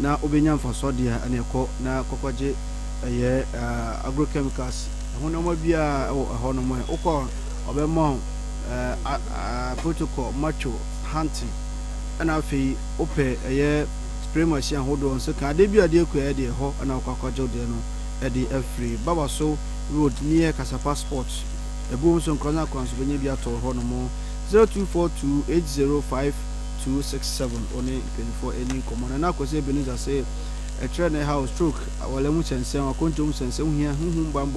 na wobenya mfaso ade a, ɛne kɔ na kɔkɔgye ɛyɛ agrochemicals ɛho nneɛma biara ɛwɔ ɛhɔ nom ɛ wokɔ a ɔbɛma wo protocol macho hunting ɛna afei wopɛ ɛyɛ spray machine ahodoɔ nso ka adeɛ bi adeɛ kɔ ɛyɛ deɛ ɛhɔ ɛna wokɔ akɔgye wo deɛ no ɛde afiri baba so road near kasapa sport ɛbuom nso nkorɔnya kwan nso bɛnya bi atɔ hɔ nom 0242 805 two six seven Ɔne mpanyimfoɔ redi nkɔmmɔ no, na Kwesi Ebenezer se ɛkyerɛ ne haw, stroke, aware ho sɛnsɛn, akwantuo ho sɛnsɛn, wo hia honhom bammɔ,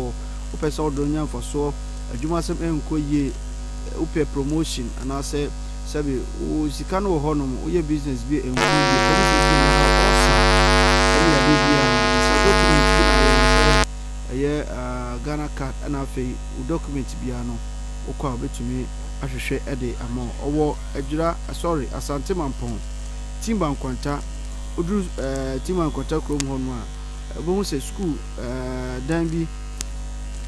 wo pɛ sɛ wo dɔ no nya mfasoɔ, adwuma asɛm ɛnkɔ yie, wo pɛ promotion anaasɛ sɛbe wo sika no wɔ hɔ nom, wo yɛ business bi a ɛnkɔ yie, sɛ ne kɛseɛ ne haw, ɔlsa, ɛne yadeɛ biara no, sɛ document bi na ayɛ na sɛ ɛyɛ Ghana card ɛna afei wo document biara no wo kɔ a ɔbɛtumi ahwehwɛ de ama wo, ɔwɔ. Adwira, Asɔre, Asante Mampɔn, Timba Nkwanta. Woduru eh, Timba Nkwanta kurom hɔ nom a, wobɛhu sɛ sukuu eh, dan bi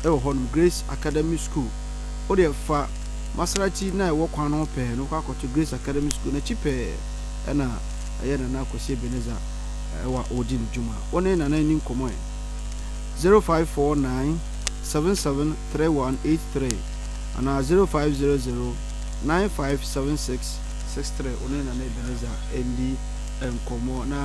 wɔ hɔ nom, Grace Academy School. Wodeɛ fa Maserati no a ɛwɔ kwan no ho pɛɛ no kɔ akɔto Grace Academy School no akyi pɛɛ ɛna ɛyɛ Nana Kwasi Ebenezer eh, wɔ a wɔredi ne dwuma. Wo ne Nana nni nkɔmmɔ ɛ. 0549 77 3183 anaa 0500 9576 63 wo ne Nana Ebenezer ndi nkɔmmɔ na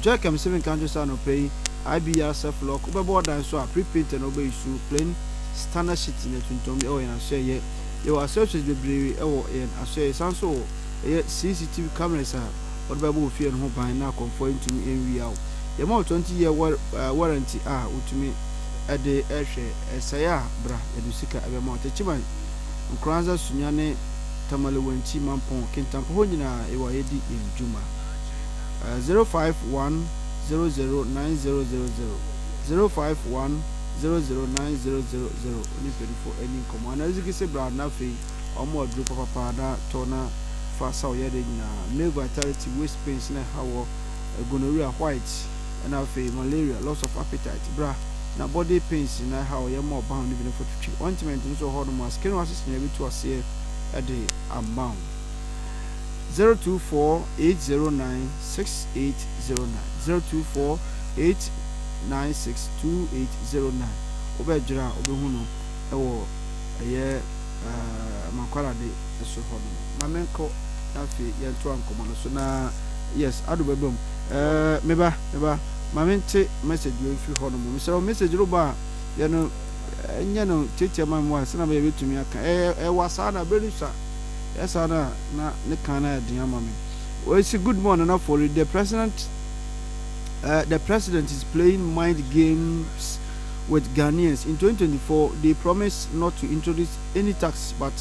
Joachim Stephen ka nkyerɛ sɛ anɔpa yi IBR surf lock wobɛbɔ ɔdan so a pre-painted na wobɛyi su plain standard sheet na tuntum ɛwɔ yɛn asoɛyɛ yɛwɔ accessories bebree ɛwɔ yɛn asoɛyɛ san so wɔ ɛyɛ CCTV cameras a wɔde bɛbɔ wo fie no ho ban na akɔmfoɔ ntumi nwia wo yɛma wo 20 year warranty a wotumi de rehwɛ sɛe a bra yɛde sika bɛma wo. Techiman, Nkoranza, Sunya ne Tamale Wantsi Mampong Kintampo hɔ nyina ewɔ a yɛdi yɛn dwuma. 0510090000, 0510090000 wo ne mpanyinfo nni nkɔmmɔ anaa dze gese bra na afei wɔama wo aduro papapa na tɔ na fa sa wo yareɛ nyinaa. Male vitality, waist pains na ɛha wɔ, gonorrhea, white. na afei malaria, loss of appetite, bra, na body pains nyinaa ɛha a ɔyɛ ma ɔba ho no bi no fototwi. Ointment nso wɔ hɔnom a skin rashes nyinaa bɛtu aseɛ de ama wo. 0248096809, 0248962809, wobɛdwerɛ a wobɛhu no wɔ ɛyɛ. ɛɛ Makwarade so hɔ nom. Ma menkɔ na afei yɛntoa nkɔmmɔ no so na yes Ado bɛba mu ɛɛ me ba me ba ma mente message wei mfiri hɔ nom mesrɛ wo message no ba a yɛ no nyɛ no tiatia ma mu a sɛna bɛyɛ bɛtumi aka ɛɛ ɛwa saa na bere no sa yɛ saa na na ne kan na yɛ den ama me wɔsi good morning na for the president uh, the president is playing mind games with Ghanaians in twenty twenty four they promise not to introduce any tax but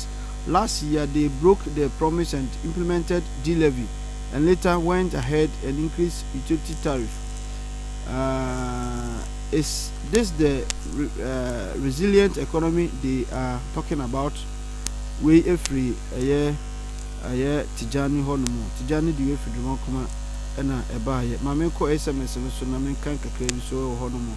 last year they broke the promise and implemented D-levy and later went ahead and increase utility tariff uh, is this the re, uh, resilient economy they are talking about wei efiri ɛyɛ ɛyɛ Tijani hɔ nom Tijani de wei efiri Dwuma Nkoma ɛna ɛbaayɛ ma menkɔ SMS no so na menkan kakra bi so ɛwɔ hɔ nom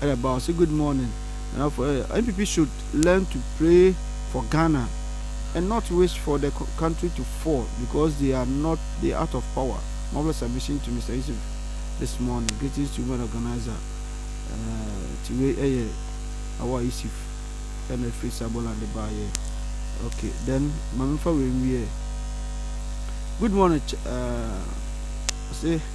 Ɛna ɛbaa ɔse good morning Nana for eh, NPP should learn to pray for Ghana and not wish for the country to fall because they are not they out of power Marvelous submission to Mister Yusuf this morning greetings to women organizer eh, ti wei ɛyɛ awa Yusuf ɛna ɛfiri Sabola de baa yɛ ok then ma memfa wei nwiɛ good morning ch eh, ɔse.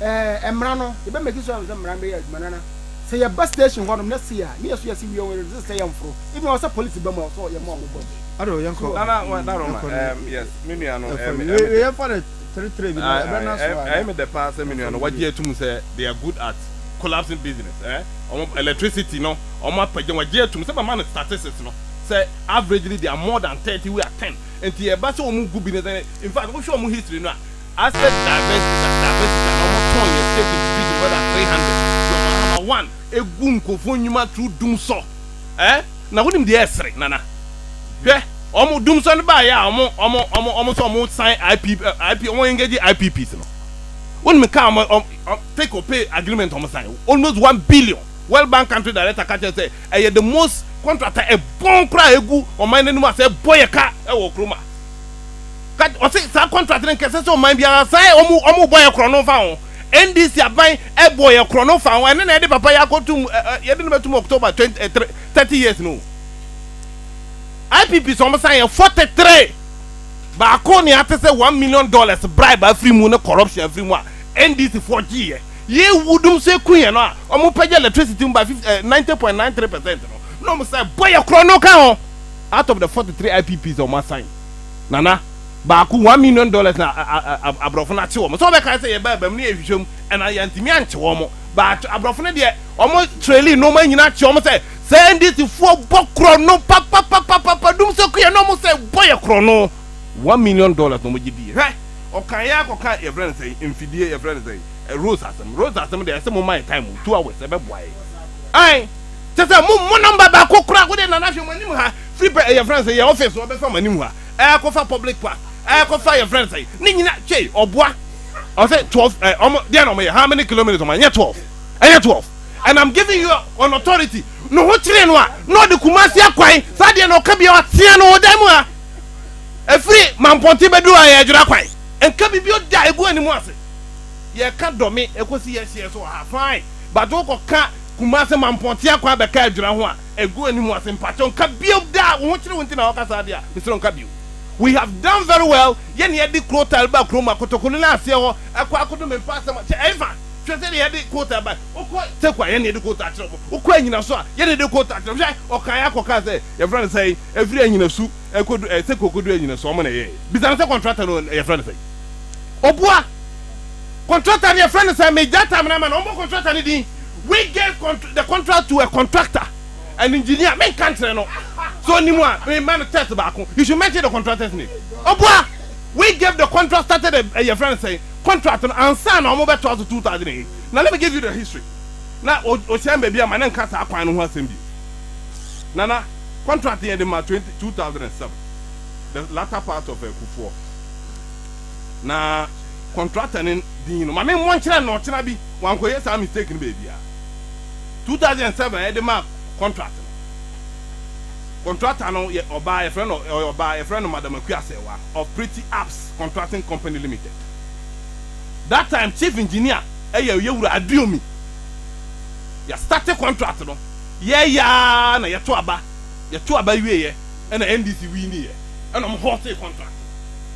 ɛɛ mmara no yɛbɛ make sure sɛ mmara no bɛyɛ adwuma nana sɛ yɛba station hɔ nom na si a ne yɛ so yɛ si wie wɔn yɛ sɛ yɛ mforo ebi wɔn sɛ polisi bɛ mu a so yɛ mu a wɔn bɔ mu. Ado yɛn kɔ. Nana wɔn da roma ɛɛm yes mi nua no ɛɛm ɛɛm. Wei yɛn fa no three three bi na ɛbɛ na so a. Ɛyɛ mi dɛ paa sɛ mi nua no wagye atum sɛ they are good at collapsing business ɛɛ wɔn electricity no wɔn apagya wagye atum sɛ bɛ ma no statistics no sɛ averagely they are more than thirty we are ten nti ɛba sɛ wɔn gu bi no sɛ infact wohwɛ wɔn history no a. Asset divestment na divestment ana ɔmo tɔn yɛ stake in Fuji more than three hundred de ɔmo ahama one egu nkorɔfoɔ ndwuma through dumsɔ eh na wonim deɛ ɛsere nana hwɛ ɔmo dumsɔ no baa yɛ a ɔmo ɔmo ɔmo ɔmo sɛ ɔmo sign IP eh IP ɔmo engage IPPs no wonim kaa ɔmo ɔmo ɔmo take or pay agreement ɔmo sign almost one billion World Bank country director ka kyerɛ sɛ ɛyɛ the most contract a ɛbɔn koraa a egu ɔman no anim a sɛ ɛbɔ yɛ ka ɛwɔ Kroma. That ɔse saa contract no nka ɛsɛ sɛ ɔman biara saa ɛ ɔmo ɔmo bɔ yɛ korɔ no fa ho. NDC aban ɛbɔ yɛ korɔ no fa ho ɛne na yɛde papa yɛ akɔtum ɛ ɛ yɛde no bɛtum October twenty ɛ three thirty years no. IPP sɛ ɔmo san yɛ forty three baako ne ate sɛ one million dollars bribe afiri mu ne corruption afiri mu a NDC foɔ gye yɛ yɛ ewu dum so eku yɛ no a ɔmo pɛgya electricity mu by fifty ɛ ninety point nine three percent no na ɔmo san bɔ yɛ korɔ no ka ho. out of the forty three IPPs a wɔn asan Nana baako one million dollars na aborɔfo no akye wɔn sɛ wɔbɛka sɛ yɛbaa bɛm no yɛhwehwɛ mu ɛna yɛntumi ankye wɔn but aborɔfo no deɛ wɔn trailing no wɔn nyinaa akye wɔn sɛ sɛ NDC foɔ bɔ korɔ no papapapapa dum sɛ kuyɛ na wɔn sɛ bɔ yɛ korɔ no one million dollars na wɔn gye di hwɛ ɔkan yɛ akɔka yɛfrɛ no sɛ mfidie yɛfrɛ no sɛ rose asɛm rose asɛm deɛ ɛsɛ mo ma yɛ time two hours ɛbɛboa yɛ ae kyɛ sɛ mo mo nɔmba baako kora wode nana hwɛ mo anim ha firi pɛ ɛyɛ fɛn sɛ yɛ ɔfɛs ɔbɛfa mo anim ha ɛkɔfa public park ɛkɔfa yɛ fɛn sɛ ne nyina twɛ ɔboa ɔsɛ 12 ɛ ɔmo deɛ na ɔmo yɛ how many kilometers ɔmo ɛnyɛ 12 ɛnyɛ 12 and i'm giving you an authority no ho kyerɛ no a na ɔde kumasi akwan saa deɛ na ɔka bia ɔtea no ɔdan mu ha ɛfiri mampɔnte bɛduru a yɛ adwera kwan nka biribi ɔda ɛgu anim ase yɛka dɔme ɛkɔsi yɛhyeɛ so wɔ ha fine but wokɔ ka Kumase Mampɔtea kɔ abɛka Adwira ho a ɛgu ani mu ase mpakyɛw nka bio da a wo ho kyere wo nti na woka saa deɛ a mesrɛ wo nka bio we have done very well yɛ na yɛde Crowtile baa kurom a kotokoli no aseɛ hɔ ɛkɔ akodo me mfa asɛm kyɛ ɛmfa hwɛ sɛdeɛ yɛde Crowtile bae wokɔ Teku a yɛ na yɛde Crowtile kyerɛ mo wokɔ anyina so a yɛ na yɛde Crowtile kyerɛ mo hwɛ ɔkaeɛ akɔ kaa sɛ yɛfrɛ no sɛe ɛfiri anyina su ɛkɔdu ɛɛ Teku ɛkɔdu anyina su ɔmo na ɛyɛɛ bisa no sɛ contractor no yɛfrɛ no sɛe ɔboa. Contractor no yɛfrɛ no sɛ megyae time no ama no ɔmmɔ contractor no din we gave contr the contract to a contractor an engineer menka nkyerɛ no sɛ ɔnim a mema no test baako he should mention the contractor's name ɔboa we gave the contract started a eh, yɛfrɛ no sɛ contract no ansa na ɔmo bɛtoa so 2008 na let me give you the history na o ɔhyɛn baabi ama no nka saa kwan no ho asɛm bio nana contract yɛde ma 20 2007 the latter part of akufoɔ na contractor no din no ma me mmɔ nkyerɛ no ɔkyena bi wankɔ yɛ saa mistake no baabi a 2007 yɛde ma contract no contractor no yɛ ɔbaa yɛfrɛ no ɔyɛ ɔbaa yɛfrɛ no madam akua sɛwa of pretty apps contracting company limited that time chief engineer ɛyɛ yɛ wura aduomi yɛ start contract no yɛ yaa na yɛto aba yɛto aba wie yɛ ɛna ndc wii ni yɛ ɛna ɔmo hɔ te contract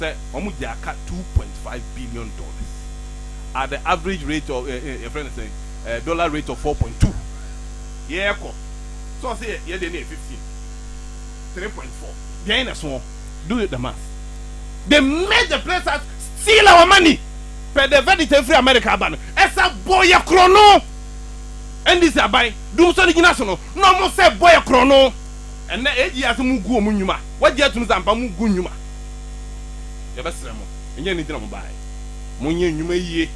sɛ wɔn gye aka two point five billion dollars at the average rate of eh, eh, yɛfrɛ no sɛn eh, dollar rate of four point two yɛɛkɔ sɛ ɔsɛ yɛ yɛ deɛ no yɛ fifteen three point four deɛn na ɛsoɔ do the math they made the place as steal our money pɛ the verdict ɛfiri America aba no ɛsɛ bɔ yɛ korɔ no NDC aban dum sɔ ne gyina so no na ɔmo sɛ bɔ yɛ korɔ no. Ɛnnɛ AG asɛ mo gu ɔmo nnwuma wagye atum sɛ ampa mo gu nnwuma yɛbɛ srɛ mo ɛnyɛ anigye na mo baeɛ mo nyɛ nnwuma yie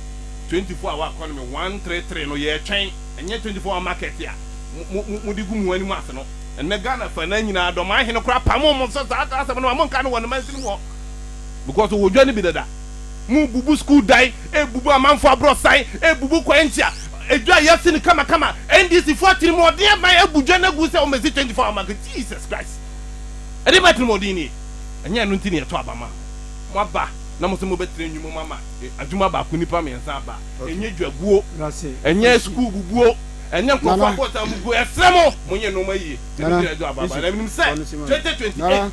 24 hour economy one three three no yɛ twɛn ɛnyɛ 24 hour market a mo mo mode gu mo anim ase no ɛnnɛ Ghana fa na nyinaa dɔman hene koraa pamo mo so saa asɛm no ma mo nka no wɔ ne mansin mu hɔ because ɔwɔ dwa no bi dada. Mobubu sukuu dan, ebubu amanfo abrɔsan, ebubu kwan ntia, edwa yɛasi no kamakama, NDC fo atirimuɔden aban abu dwa no agu sɛ wɔmɛsi 24 hour market, Jesus Christ, ɛdeɛbɛn atirimuɔden nie, ɛnyɛ ɛno nti na yɛtɔ aba maa mo, moaba na mose mobɛtena nnwuma mu ama adwuma baako nnipa mmiɛnsa aba, ɛnyɛ dwaguo, ɛnyɛ sukuu bubuo, ɛnyɛ nkorɔfoɔ abrɔsan bubuo, yɛsrɛ mo monyɛ nnoɔma yie na ɛno nti na yɛtɔ aba maa mo, na menim sɛ 2028.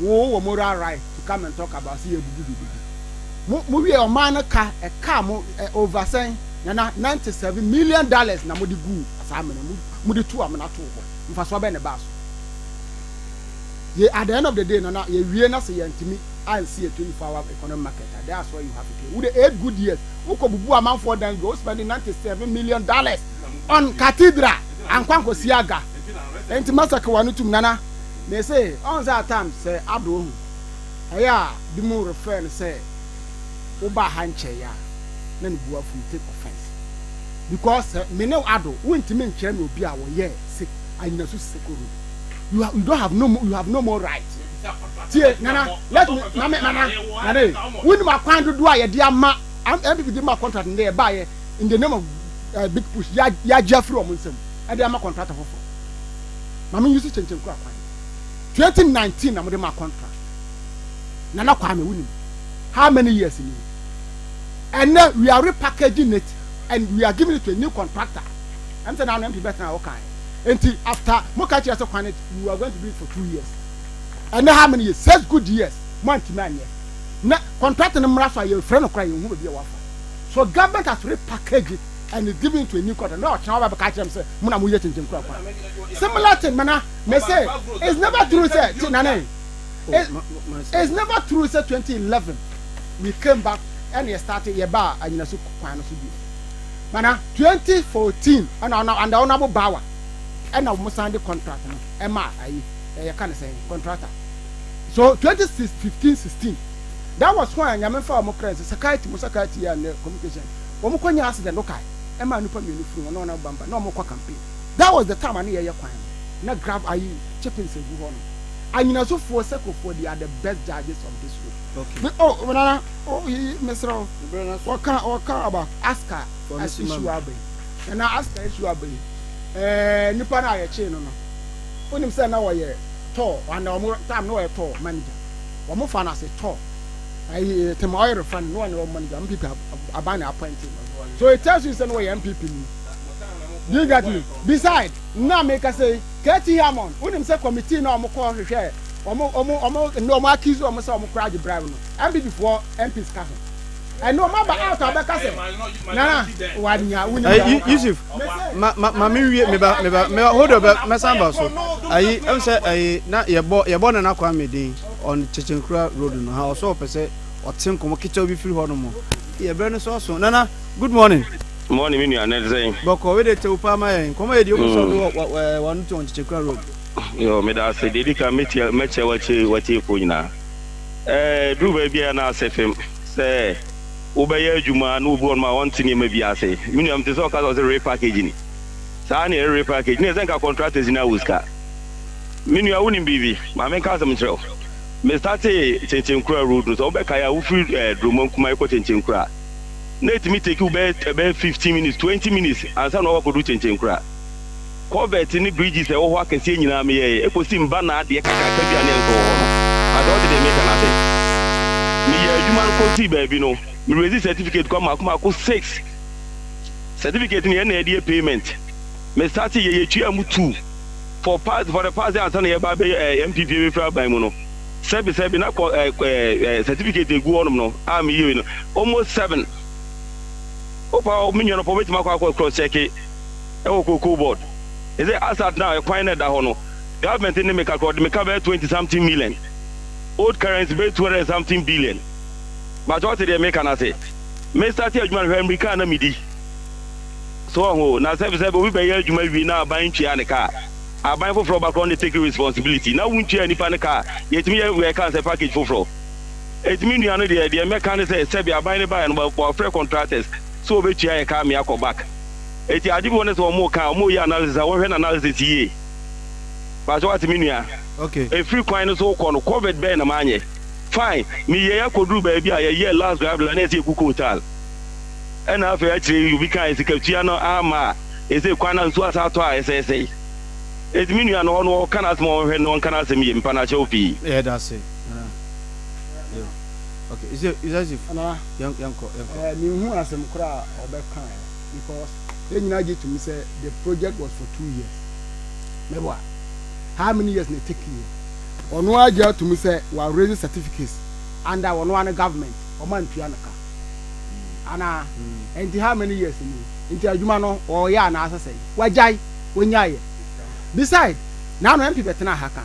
wo wɔ mo ra right to come and talk about sɛ yɛbubu biribi mo mo wie ɔman no ka ɛkaa mo over sɛn nana ninety seven million dollars na mo de gu saa amena mu mo de tu amena to hɔ mfasoɔ bɛn na ɛbaa so yɛ at the end of the day nana yɛ wie na sɛ yɛntumi ansi yɛ twenty four hour economic market a that's why you have to pay wo de eight good years wokɔ bubu amanfoɔ dan dwa wo spend ninety seven million dollars on cathedral ankwankɔ siaga ɛnti masaka wa no tum nana. Me se ɔn sɛ at times sɛ Ado ohu ɛyɛ a binom refrɛ no sɛ wo baa ha nkyɛe a na ne bu afu you take offence because sɛ me ne Ado wo ntumi nkyerɛ me obi a wɔyɛ se anyinasu siseko road you you don't have no you have no more right tie nana let me na me nana nana wonim akwan dodoɔ a yɛde ama MPP de ma contract ndɛ yɛbaayɛ in the name of uh, big push yɛagye afiri wɔn nsam ɛde ama contractor foforɔ ma me use kyenkyen kura kwan twenty nineteen na mo de ma contract nana kwame wo nim how many years ni and now we are repackaging it and we are giving it to a new contractor ɛm sɛ na ano mpi bɛtena a wo kan nti after mo ka kyerɛ sɛ kwan it we are going to do it for two years and now how many years six good years mo antimi anyɛ na contractor no mmara so a yɛfrɛ no kora yɛn ho baabi a wafa so government has repackaged it and it give me into a new quarter na ɔkyerɛ ɔba bɛka kyerɛ m sɛ mo na mo yɛ kyenkyen kura kwan similar thing mana me say it's never true sɛ ti nane oh, it, it's never true sɛ 2011 we came back ɛna yɛ start yɛ ba anyina so kwan no so bi mana 2014 ɛna ɔna anda ɔna bo bawa ɛna wɔn san de contract no ɛma ayi ɛyɛ ka ne sɛn contractor so 2015 16 that was when nyame fa wɔn kra nsɛ sakati mo sakati yɛ ne communication. wɔn kɔ nyaa accident no kae ɛmaa nipa mmienu firi wɔn na wɔn nam bamba na wɔn kɔ campaign that was the time ano yɛyɛ kwan no na grav ayi chippings egu hɔ nom anyinaso foɔ seko foɔ they are the best judges of this road okay me oh nana oh yi mesrɛ wɔka wɔka about aska as issue aba yi nana aska issue aba yi ɛɛ eh, nipa no a yɛkyee no no wonim sɛ na wɔyɛ tɔɔ ana wɔn time na wɔyɛ tɔɔ manager wɔn fa no ase tɔɔ ayi eh, tɛmɛ ɔyɛ refa no na ɔne ɔmo manager ɔmo pipi aban na apɔnti no so it tells you sɛ no wɔyɛ npp ni do you get me beside na meka sɛ kt hamon wonim sɛ committee na ɔmo kɔ hwehwɛ ɔmo ɔmo ɔmo ne ɔmo accuse ɔmo sɛ ɔmo kora agye bribe no npp foɔ mps ka ho ɛne ɔmo aba out a ɔbɛka sɛ nana wanya wonim eh, yɛ yusuf ma ma ma me nwie meba meba meba hold on mɛsan ba so ayi ɛm sɛ ayi na yɛbɔ yɛbɔ nana kwame din on Kyekyenkura road no ha ɔsɔ ɔpɛ sɛ ɔte nkɔmɔ ketewa bi firi hɔ nom yɛ brɛ no so ɔso nana good morning. Morning me nua na ɛte sɛn. Bɔkɔ wei de tew paa ma yɛn nkɔmɔ yɛ di ɔmo sɔ do wɔ ɛɛ wɔn to on Kyekyenkura road. Yoo meda ase deɛ edi kan mɛtia mɛkyɛ watie watiefoɔ nyinaa ɛɛ duru baabi a na asɛ fam sɛ wobɛyɛ adwuma na obi wɔ nom a ɔnte nneɛma bi ase me nua mete sɛ ɔka sɛ ɔsɛ repackaging saa na ɛyɛ repackage na ɛsɛ nka contractors no awo sika. Me nua, wunim biribi? Ma menka asɛm nkyerɛ wo. Mestartee Kyenkyenkura Road no, sɛ wobɛkae a, wofiri ɛɛ Duromam Kumayi kɔ Kyenkyenkura a, na etumi take wo bɛyɛ ɛbɛyɛ fifteen minutes, twenty minutes ansa na woakɔdu Kyenkyenkura. Culvert ne bridges a ɛwɔ hɔ akɛseɛ nyinaa meyɛeɛ, ɛkɔsi Mbana adeɛ kakraka bi a na ɛnsɔ wɔ hɔ no. Anka wote deɛ mereka no ase. Meyɛɛ adwuma no kɔsii baabi no, me raise certificate kwan mmaako mmaako six. Certificate no yɛn na yɛde yɛ payment. Mestartee yɛ, yɛtuaa mu two. for past for the past yɛ ansa na yɛba abɛ ɛɛ eh, MPP bɛfiri aban mu no sɛbi sɛbi na kɔ ɛɛ eh, ɛɛ eh, certificate egu hɔnom no a mi yie no almost seven opa mi nua no pɔ obetumi akɔ akɔ cross check ɛwɔ koko board ɛsɛ as at now ɛkwan na ɛda hɔ no government ne mi kakra ɔde mi ka bɛyɛ twenty something million old currency bɛyɛ two hundred something billion bàtɛ ɔte deɛ mi ka na se mi start adwuma no hwɛ mi kaa na mi di. So wɔn ho na sɛ sɛ obi bɛyɛ adwuma awie na aban ntwea ne ka a, aban foforɔ ba korɔ ne take responsibility na wontwea nipa no ka a, yɛtumi yɛ wɛ ka sɛ package foforɔ. Enti me nua no deɛ deɛ mɛka ne sɛ sɛbi aban no baeɛ no bɔ bɔfrɛ contractors sɛ wɔbɛtwea yɛ ka mea kɔ back. Enti ade bi wɔ ne sɛ wɔn ka a wɔn yɛ analysis a wɔn hwɛ no analysis yie. Pakyɛ wate me nua. Ok. Ɛfiri kwan no so wokɔ no covid bɛn na manyɛ? Fine. Me yɛɛ akɔduru baabi a yɛyɛɛ last drive na na ɛsɛ yɛku coal tar. ɛna afei akyire yi obi ka sikatua no amma a, ɛsɛ kwan no nso asan atɔ a ɛsɛesɛe. Enti me nua no hɔ no ɔka n'asɛm a ɔnhwɛ no ɔnka n'asɛm yie mpa no akyɛ wo pii. Yɛda ase nana yo ok ise isasif Nana, yɛn yɛn kɔ yɛn kɔ. eh, menhu asɛm koraa a ɔbɛkae because yɛn nyinaa gye tom sɛ the project was for two years mɛboa how many years na ɛtake yɛ ɔno ara gye atom sɛ wa raise certificates under ɔno ara ne government ɔma ntua no ka anaa ɛnti how many years ni nti adwuma no ɔyɛ anaa sɛ sɛn wagyae ɔnyaeɛ beside na ano MP bɛtena ha kan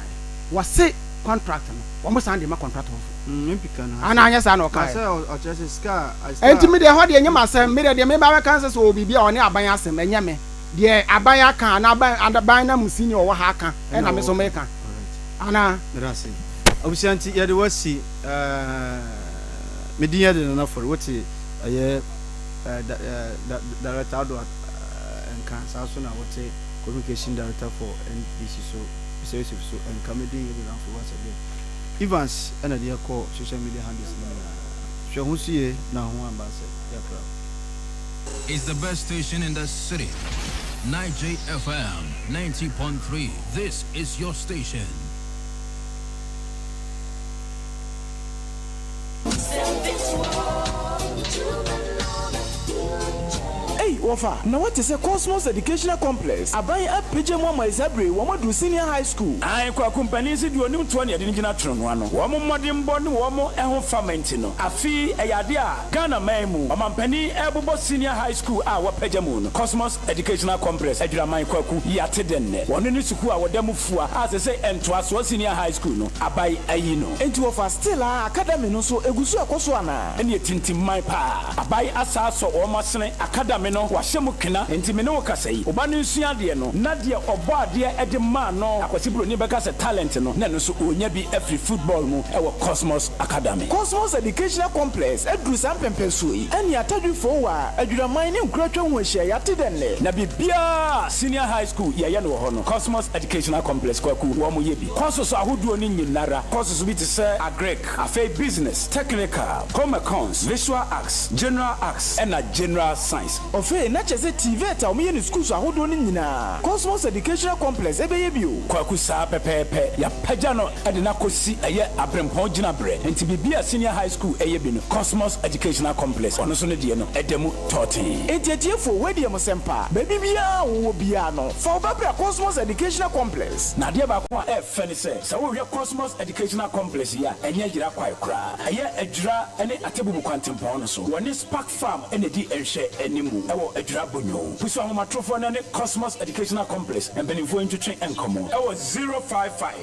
wɔse contract no wɔn san de ma contract foforo mm, anaa anyɛ saa na ɔkaeɛ ɛnti me deɛ hɔ deɛ nyɛ masɛm me deɛ deɛ meba bɛka nsɛ sɛ ɔbiribi a ɔne aban asɛm ɛnyɛ me deɛ aban aka anaa aban na mu sini ɔwɔ ha aka ɛna me so meka anaa abusua nti yɛde wasi eh, Me din yɛ de Nana Forey wo te ɛyɛ eh, da, eh, da, Director Addo at, eh, nka saa nso na wo te Communication Director for NBC so Mr Yusuf so nka me din yɛ de Nana Forey once again Evans ɛna de ɛkɔ social media handles no nyinaa hwɛ ho so yie na ho amba sɛ yɛakra wo. It's the best station in the city. Niger FM 90.3, this is your station. Ei wɔfa, na woate sɛ Cosmos Educational Complex aban apagya mu ama Ɛsɛ bere wɔn adu senior high school. Ae Kwaku mpanin se deɛ ɔnim toɔ ne ɛde no gyina tronoo ano. Wɔn mmɔdenbɔ ne wɔn ho fama nti no, afe yi ɛyɛ adeɛ a Ghana man mu ɔmampanin ɛrebobɔ senior high school a wɔapagya mu no, Cosmos. Educational Complex, Adwiraman Kwaku yi ate dɛn nnɛ? Wɔno ne sukuu a wɔda mu fua a sɛ sɛ ntoasoɔ senior high school no abae ayi no. Enti wɔfa still a academy no nso egu so ɛkɔ so anaa? Ɛneɛ tintim man paa. Abae asa asɔ wɔn asene, academy no wɔahyɛ mu kena. Enti me ne wo kasa yi, wo ba no nsua adeɛ no na deɛ ɔbɔ adeɛ de maa no, Akwasi Broni bɛka sɛ talent no na ɛno nso ɔnya bi afiri football mu wɔ Cosmos. Academy, Cosmos Educational Complex aduru saa mpɛnpɛnsoɔ yi ɛne Atadwi Fowaa, Adwiraman ne Nkuratwa ho ahyia yɛate dɛ nnɛ na biribiara a Senior High School yɛyɛ no wɔ hɔ no Cosmos Educational Complex Kwaku wɔn yɛ bi. Courses ahodoɔ no nyinara, courses bi te sɛ Agric, afei Business, Technical, Home Econs, Visual Arts, General Arts ɛna General Science. Ɔfei na kyɛsɛ TVET a wɔyɛ no schools ahodoɔ no nyinaa Cosmos Educational Complex ɛbɛyɛ bi o. Kwaku saa pɛpɛɛpɛ, yɛapagya no. de no akɔsi ɛyɛ aberempɔn gyinaberɛ, enti biribi a Senior High School ɛyɛ bi no, Cosmos Educational Complex, ɔno nso ne deɛ no da mu tɔɔtee. Enti atiefoɔ, wei deɛ mo sɛ mpa, baabi biara a wowɔ biara no, fa wo ba bra Cosmos Educational Complex. Na adeɛ baako a ɛyɛ fɛ ne sɛ, sɛ wohwɛ Cosmos Educational Complex yi a, ɛnyɛ yera kwae koraa. Ɛyɛ Adwira ne Atebubu kwantempɔn no so. Wɔne Spark Farm na ɛdi nhwɛ anim wɔ Adwira Bonyoo. Pusu ahomatrofoɔ no ne Cosmos Educational Complex mpanimfoɔ ntwetwe nkɔmmɔ wɔ zero five five.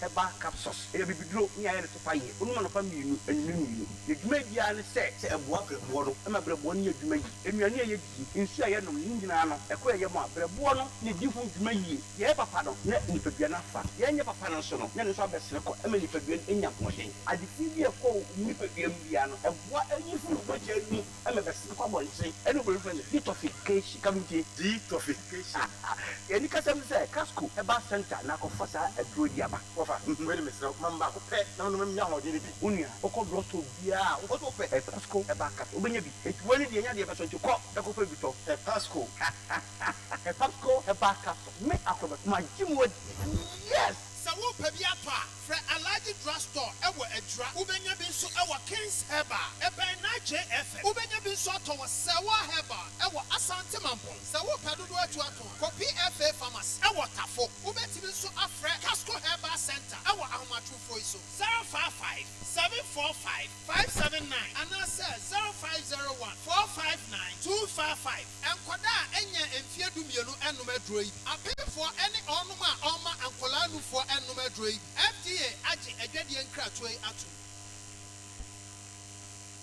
Herbal capsules, Ɛyɛ abibiduro ne ayɛ no topa yie. Wonom anɔpa mmienu, anwummerɛ mmienu. N'adwuma biara ne sɛ, sɛ ɛboa berɛboɔ no, ɛma berɛboɔ no yɛ adwuma yie. Nnuane a yɛdie, nsuo a yɛnom ne nyinaa no, ɛkɔ yɛn yam a, berɛboɔ no na ɛdi ho dwuma yie. Yɛyɛ papa no, na nipadua no afa. Yɛnyɛ papa no nso no, na ɛno nso abɛsene kɔ. Ɛma nipadua no nya ahoɔden. Ade fi bi a ɛkɔ wo nipadua mu biara no, ɛboa ɛnyi firi wo mogya mu. ɛma bɛsen kɔ abɔnten ɛne obi frɛ no detoxification kabidie detoxification yɛni kasɛm ne sɛ casco herbal center na akɔfa saa aduro yi aba wɔfa wei de mesrɛ wo mam baako pɛ na menom menya ahoɔden no bi onua wokɔ drug store biaa a wokɔ sɛ wopɛ hepasco herbal capsule wobɛnya bi enti wei ne deɛ ɛnyɛ adeɛ pɛ so nti kɔ na kɔfa bi tɔ hepasco hepasco herbal capsule me akorɔbɛ magye mu adi yes. Sɛ worepɛ bi atɔ a, Frɛ Alhaji Drug Store wɔ Adwira. Wobɛnya bi nso wɔ Kings Herbal, ɛbɛn NAJFM. Wobɛnya bi nso atɔ wɔ Sewaa Herbal wɔ Asante Mampong. Sɛ wopɛ dodoɔ atu atõ a, kɔ PFA Pharmacy wɔ Tafo. Wobɛtumi nso afrɛ Casco Herbal Centre wɔ ahomatrofoɔ yi so, 055 745 579 anaasɛ 0501 459 255. Nkɔdaa a ɛnyɛ mfeɛ dummienu nnom aduro yi bi. Apeefoɔ ne ɔɔnom a ɔmma nkɔlaa nufoɔ nnom aduro yi bi. FDA agye adwadie nkratoɔ yi atom.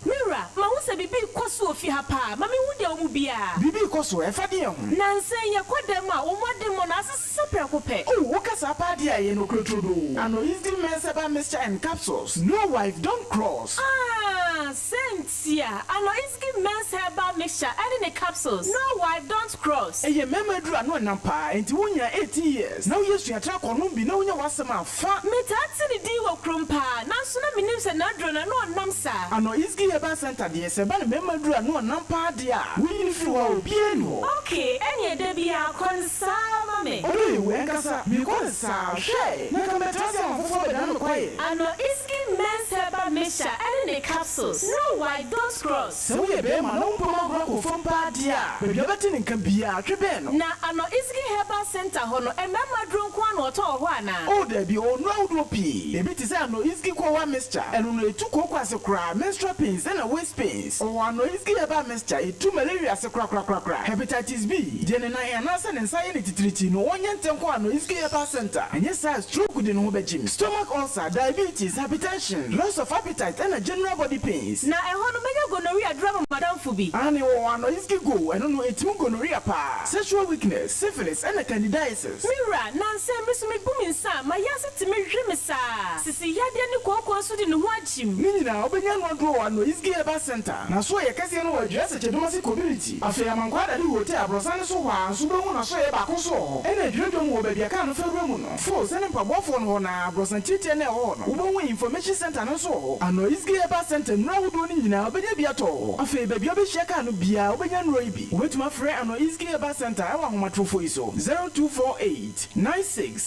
Me wura, mahu sɛ biribi rekɔ so wɔ fie ha paa. Ma menhu deɛ ɔmu biara. Biribi rekɔ so? Ɛfa deɛn ho? Nansa yi, yɛkɔ dɛm mu a, wɔn mu ademmɔ no ase sesa prɛko pɛ. Oh, woka saa paa deɛ a, ɛyɛ nokorɛ turodoo. Anointing Mensɛba Mixture and Capsules, New Wife, Don't Cross. Ah! Sɛntia ano isgi men's herbal mixture ɛne ne capsules no why don't cross. Ɛyɛ mmarima aduru ano ɛnam paa ɛnti wo nyaa eighteen years na woyɛ suatraa kɔ nom bi na wonya w'asɛm a fa. Me taa te ne din wɔ kurom paa nanso na me nim sɛ n'aduro no ano ɔnam saa. Ano isgi herbal center deɛ sɛ ɛba no mmarima aduru ano ɔnam paa deɛ a wonyi no firi hɔ a obiara nni hɔ. Okay ɛneɛ dabiaa kɔ ne. saa ara ma me. Ɔdɔ yɛ wu ankasa. Mekɔ no saa. Hwɛ! Na anka mɛtra ase ama afoforɔ abɛdane me kwaeɛ. Ano iskin mens herba mischa ɛne ne capsules no wai dont cross. Sɛ woyɛ bɛɛma na wo mpoma agorɔ kɔ fam paa deɛ a, baabi a wobɛte ne nka biara, twe bɛn no. Na ano iskin herbal center hɔ no, mmarima aduro nko ara na wɔtɔ wɔ hɔ anaa? Oh, daabi, ɔwɔ nnuro ahodoɔ pii. Ebi te sɛ ano iskin koowaa mischa, ɛno no, ɛtu kooko ase koraa, menstrual pains ɛna waist pains. Ɔwɔ anorexic herbal mixture, etu malaria ase korakorakorakora, hepatitis B, deɛ ne nan anaasɛ ne nsa yɛ no titiritii no ɔnyɛ ntɛn nkɔ anorexic herbal centre, ɛnyɛ saa a stroke de ne ho bɛgyem, stomach ulcer, diabetes, hypertension, loss of appetite ɛna general body pains. Na ɛhɔ no mɛnya gonorrhea aduru ama m'adamfo bi. Aane ɔwɔ anorexic go, ɛno no ɛtim gonorrhea paa, sexual weakness, syphilis ɛna candidiasis. Me wura, nansɛ me so mebu me nsa a, m'ayaase timi hwe me saa. Sisi yadeɛ ne kooko nso de ne ho agye. Tim. Ne nyinaa, wobenya no aduro wɔ Anois Gay Urban Centre. N'asoɛeɛ kɛseɛ no wɔ Aduasa Kyɛdumase Community. Afei Amankwa Adade Hotel, Abrɔsan no so hɔ ara nso wobɛhu n'asoɛeɛ baako nso wɔ hɔ. Ɛna Adwira Dwam hɔ, baabi a kaa no fa wura mu no, fo sɛne mpaboafoɔ no hɔ no ara, Abrɔsan Tiatia no a ɛwɔ hɔ no, wobɛhu Information Centre no nso wɔ hɔ. Anois Gay Urban Centre nnuro ahodoɔ no nyinaa, wobɛnya bi atɔ wɔ hɔ. Afei, baabi a wobɛhyia kaa no biara, wobɛnya nnuro yi bi. Wobɛtumi afrɛ Anois Gay Urban Centre wɔ ahomatorofoɔ yi so, 0248 96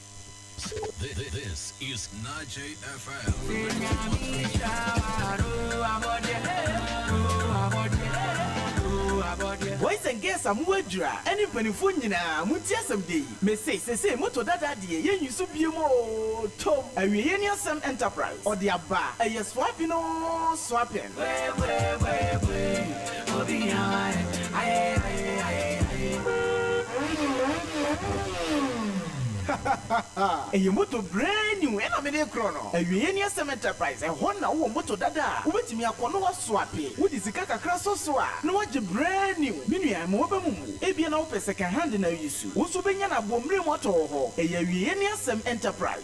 This is Najay FM. Boys and girls a mowɔ adwira ɛne mpaninfoɔ nyinaa montie asɛm dɛ yi, mese sesei moto dada deɛ yɛnyi so biom oo, tom, awieɛ ni asɛm enterprise ɔde aba, ɛyɛ soapin oo soapin. Ɛyɛ moto brand new ɛna mede rekorɔ no. Awieɛ ni asɛm Enterprise, ɛhɔ na wowɔ moto dada a, wobɛtumi akɔ na woaswape. Wode sika kakra sɔ so a, na woagye brand new. Me nua, mma w'aba mu mmu. Ebia na wopɛ second hand na reuse. Wo nso wobɛnya no abɔmmerɛ mu atɔ wɔ hɔ. Ɛyɛ awieɛ ni asɛm Enterprise.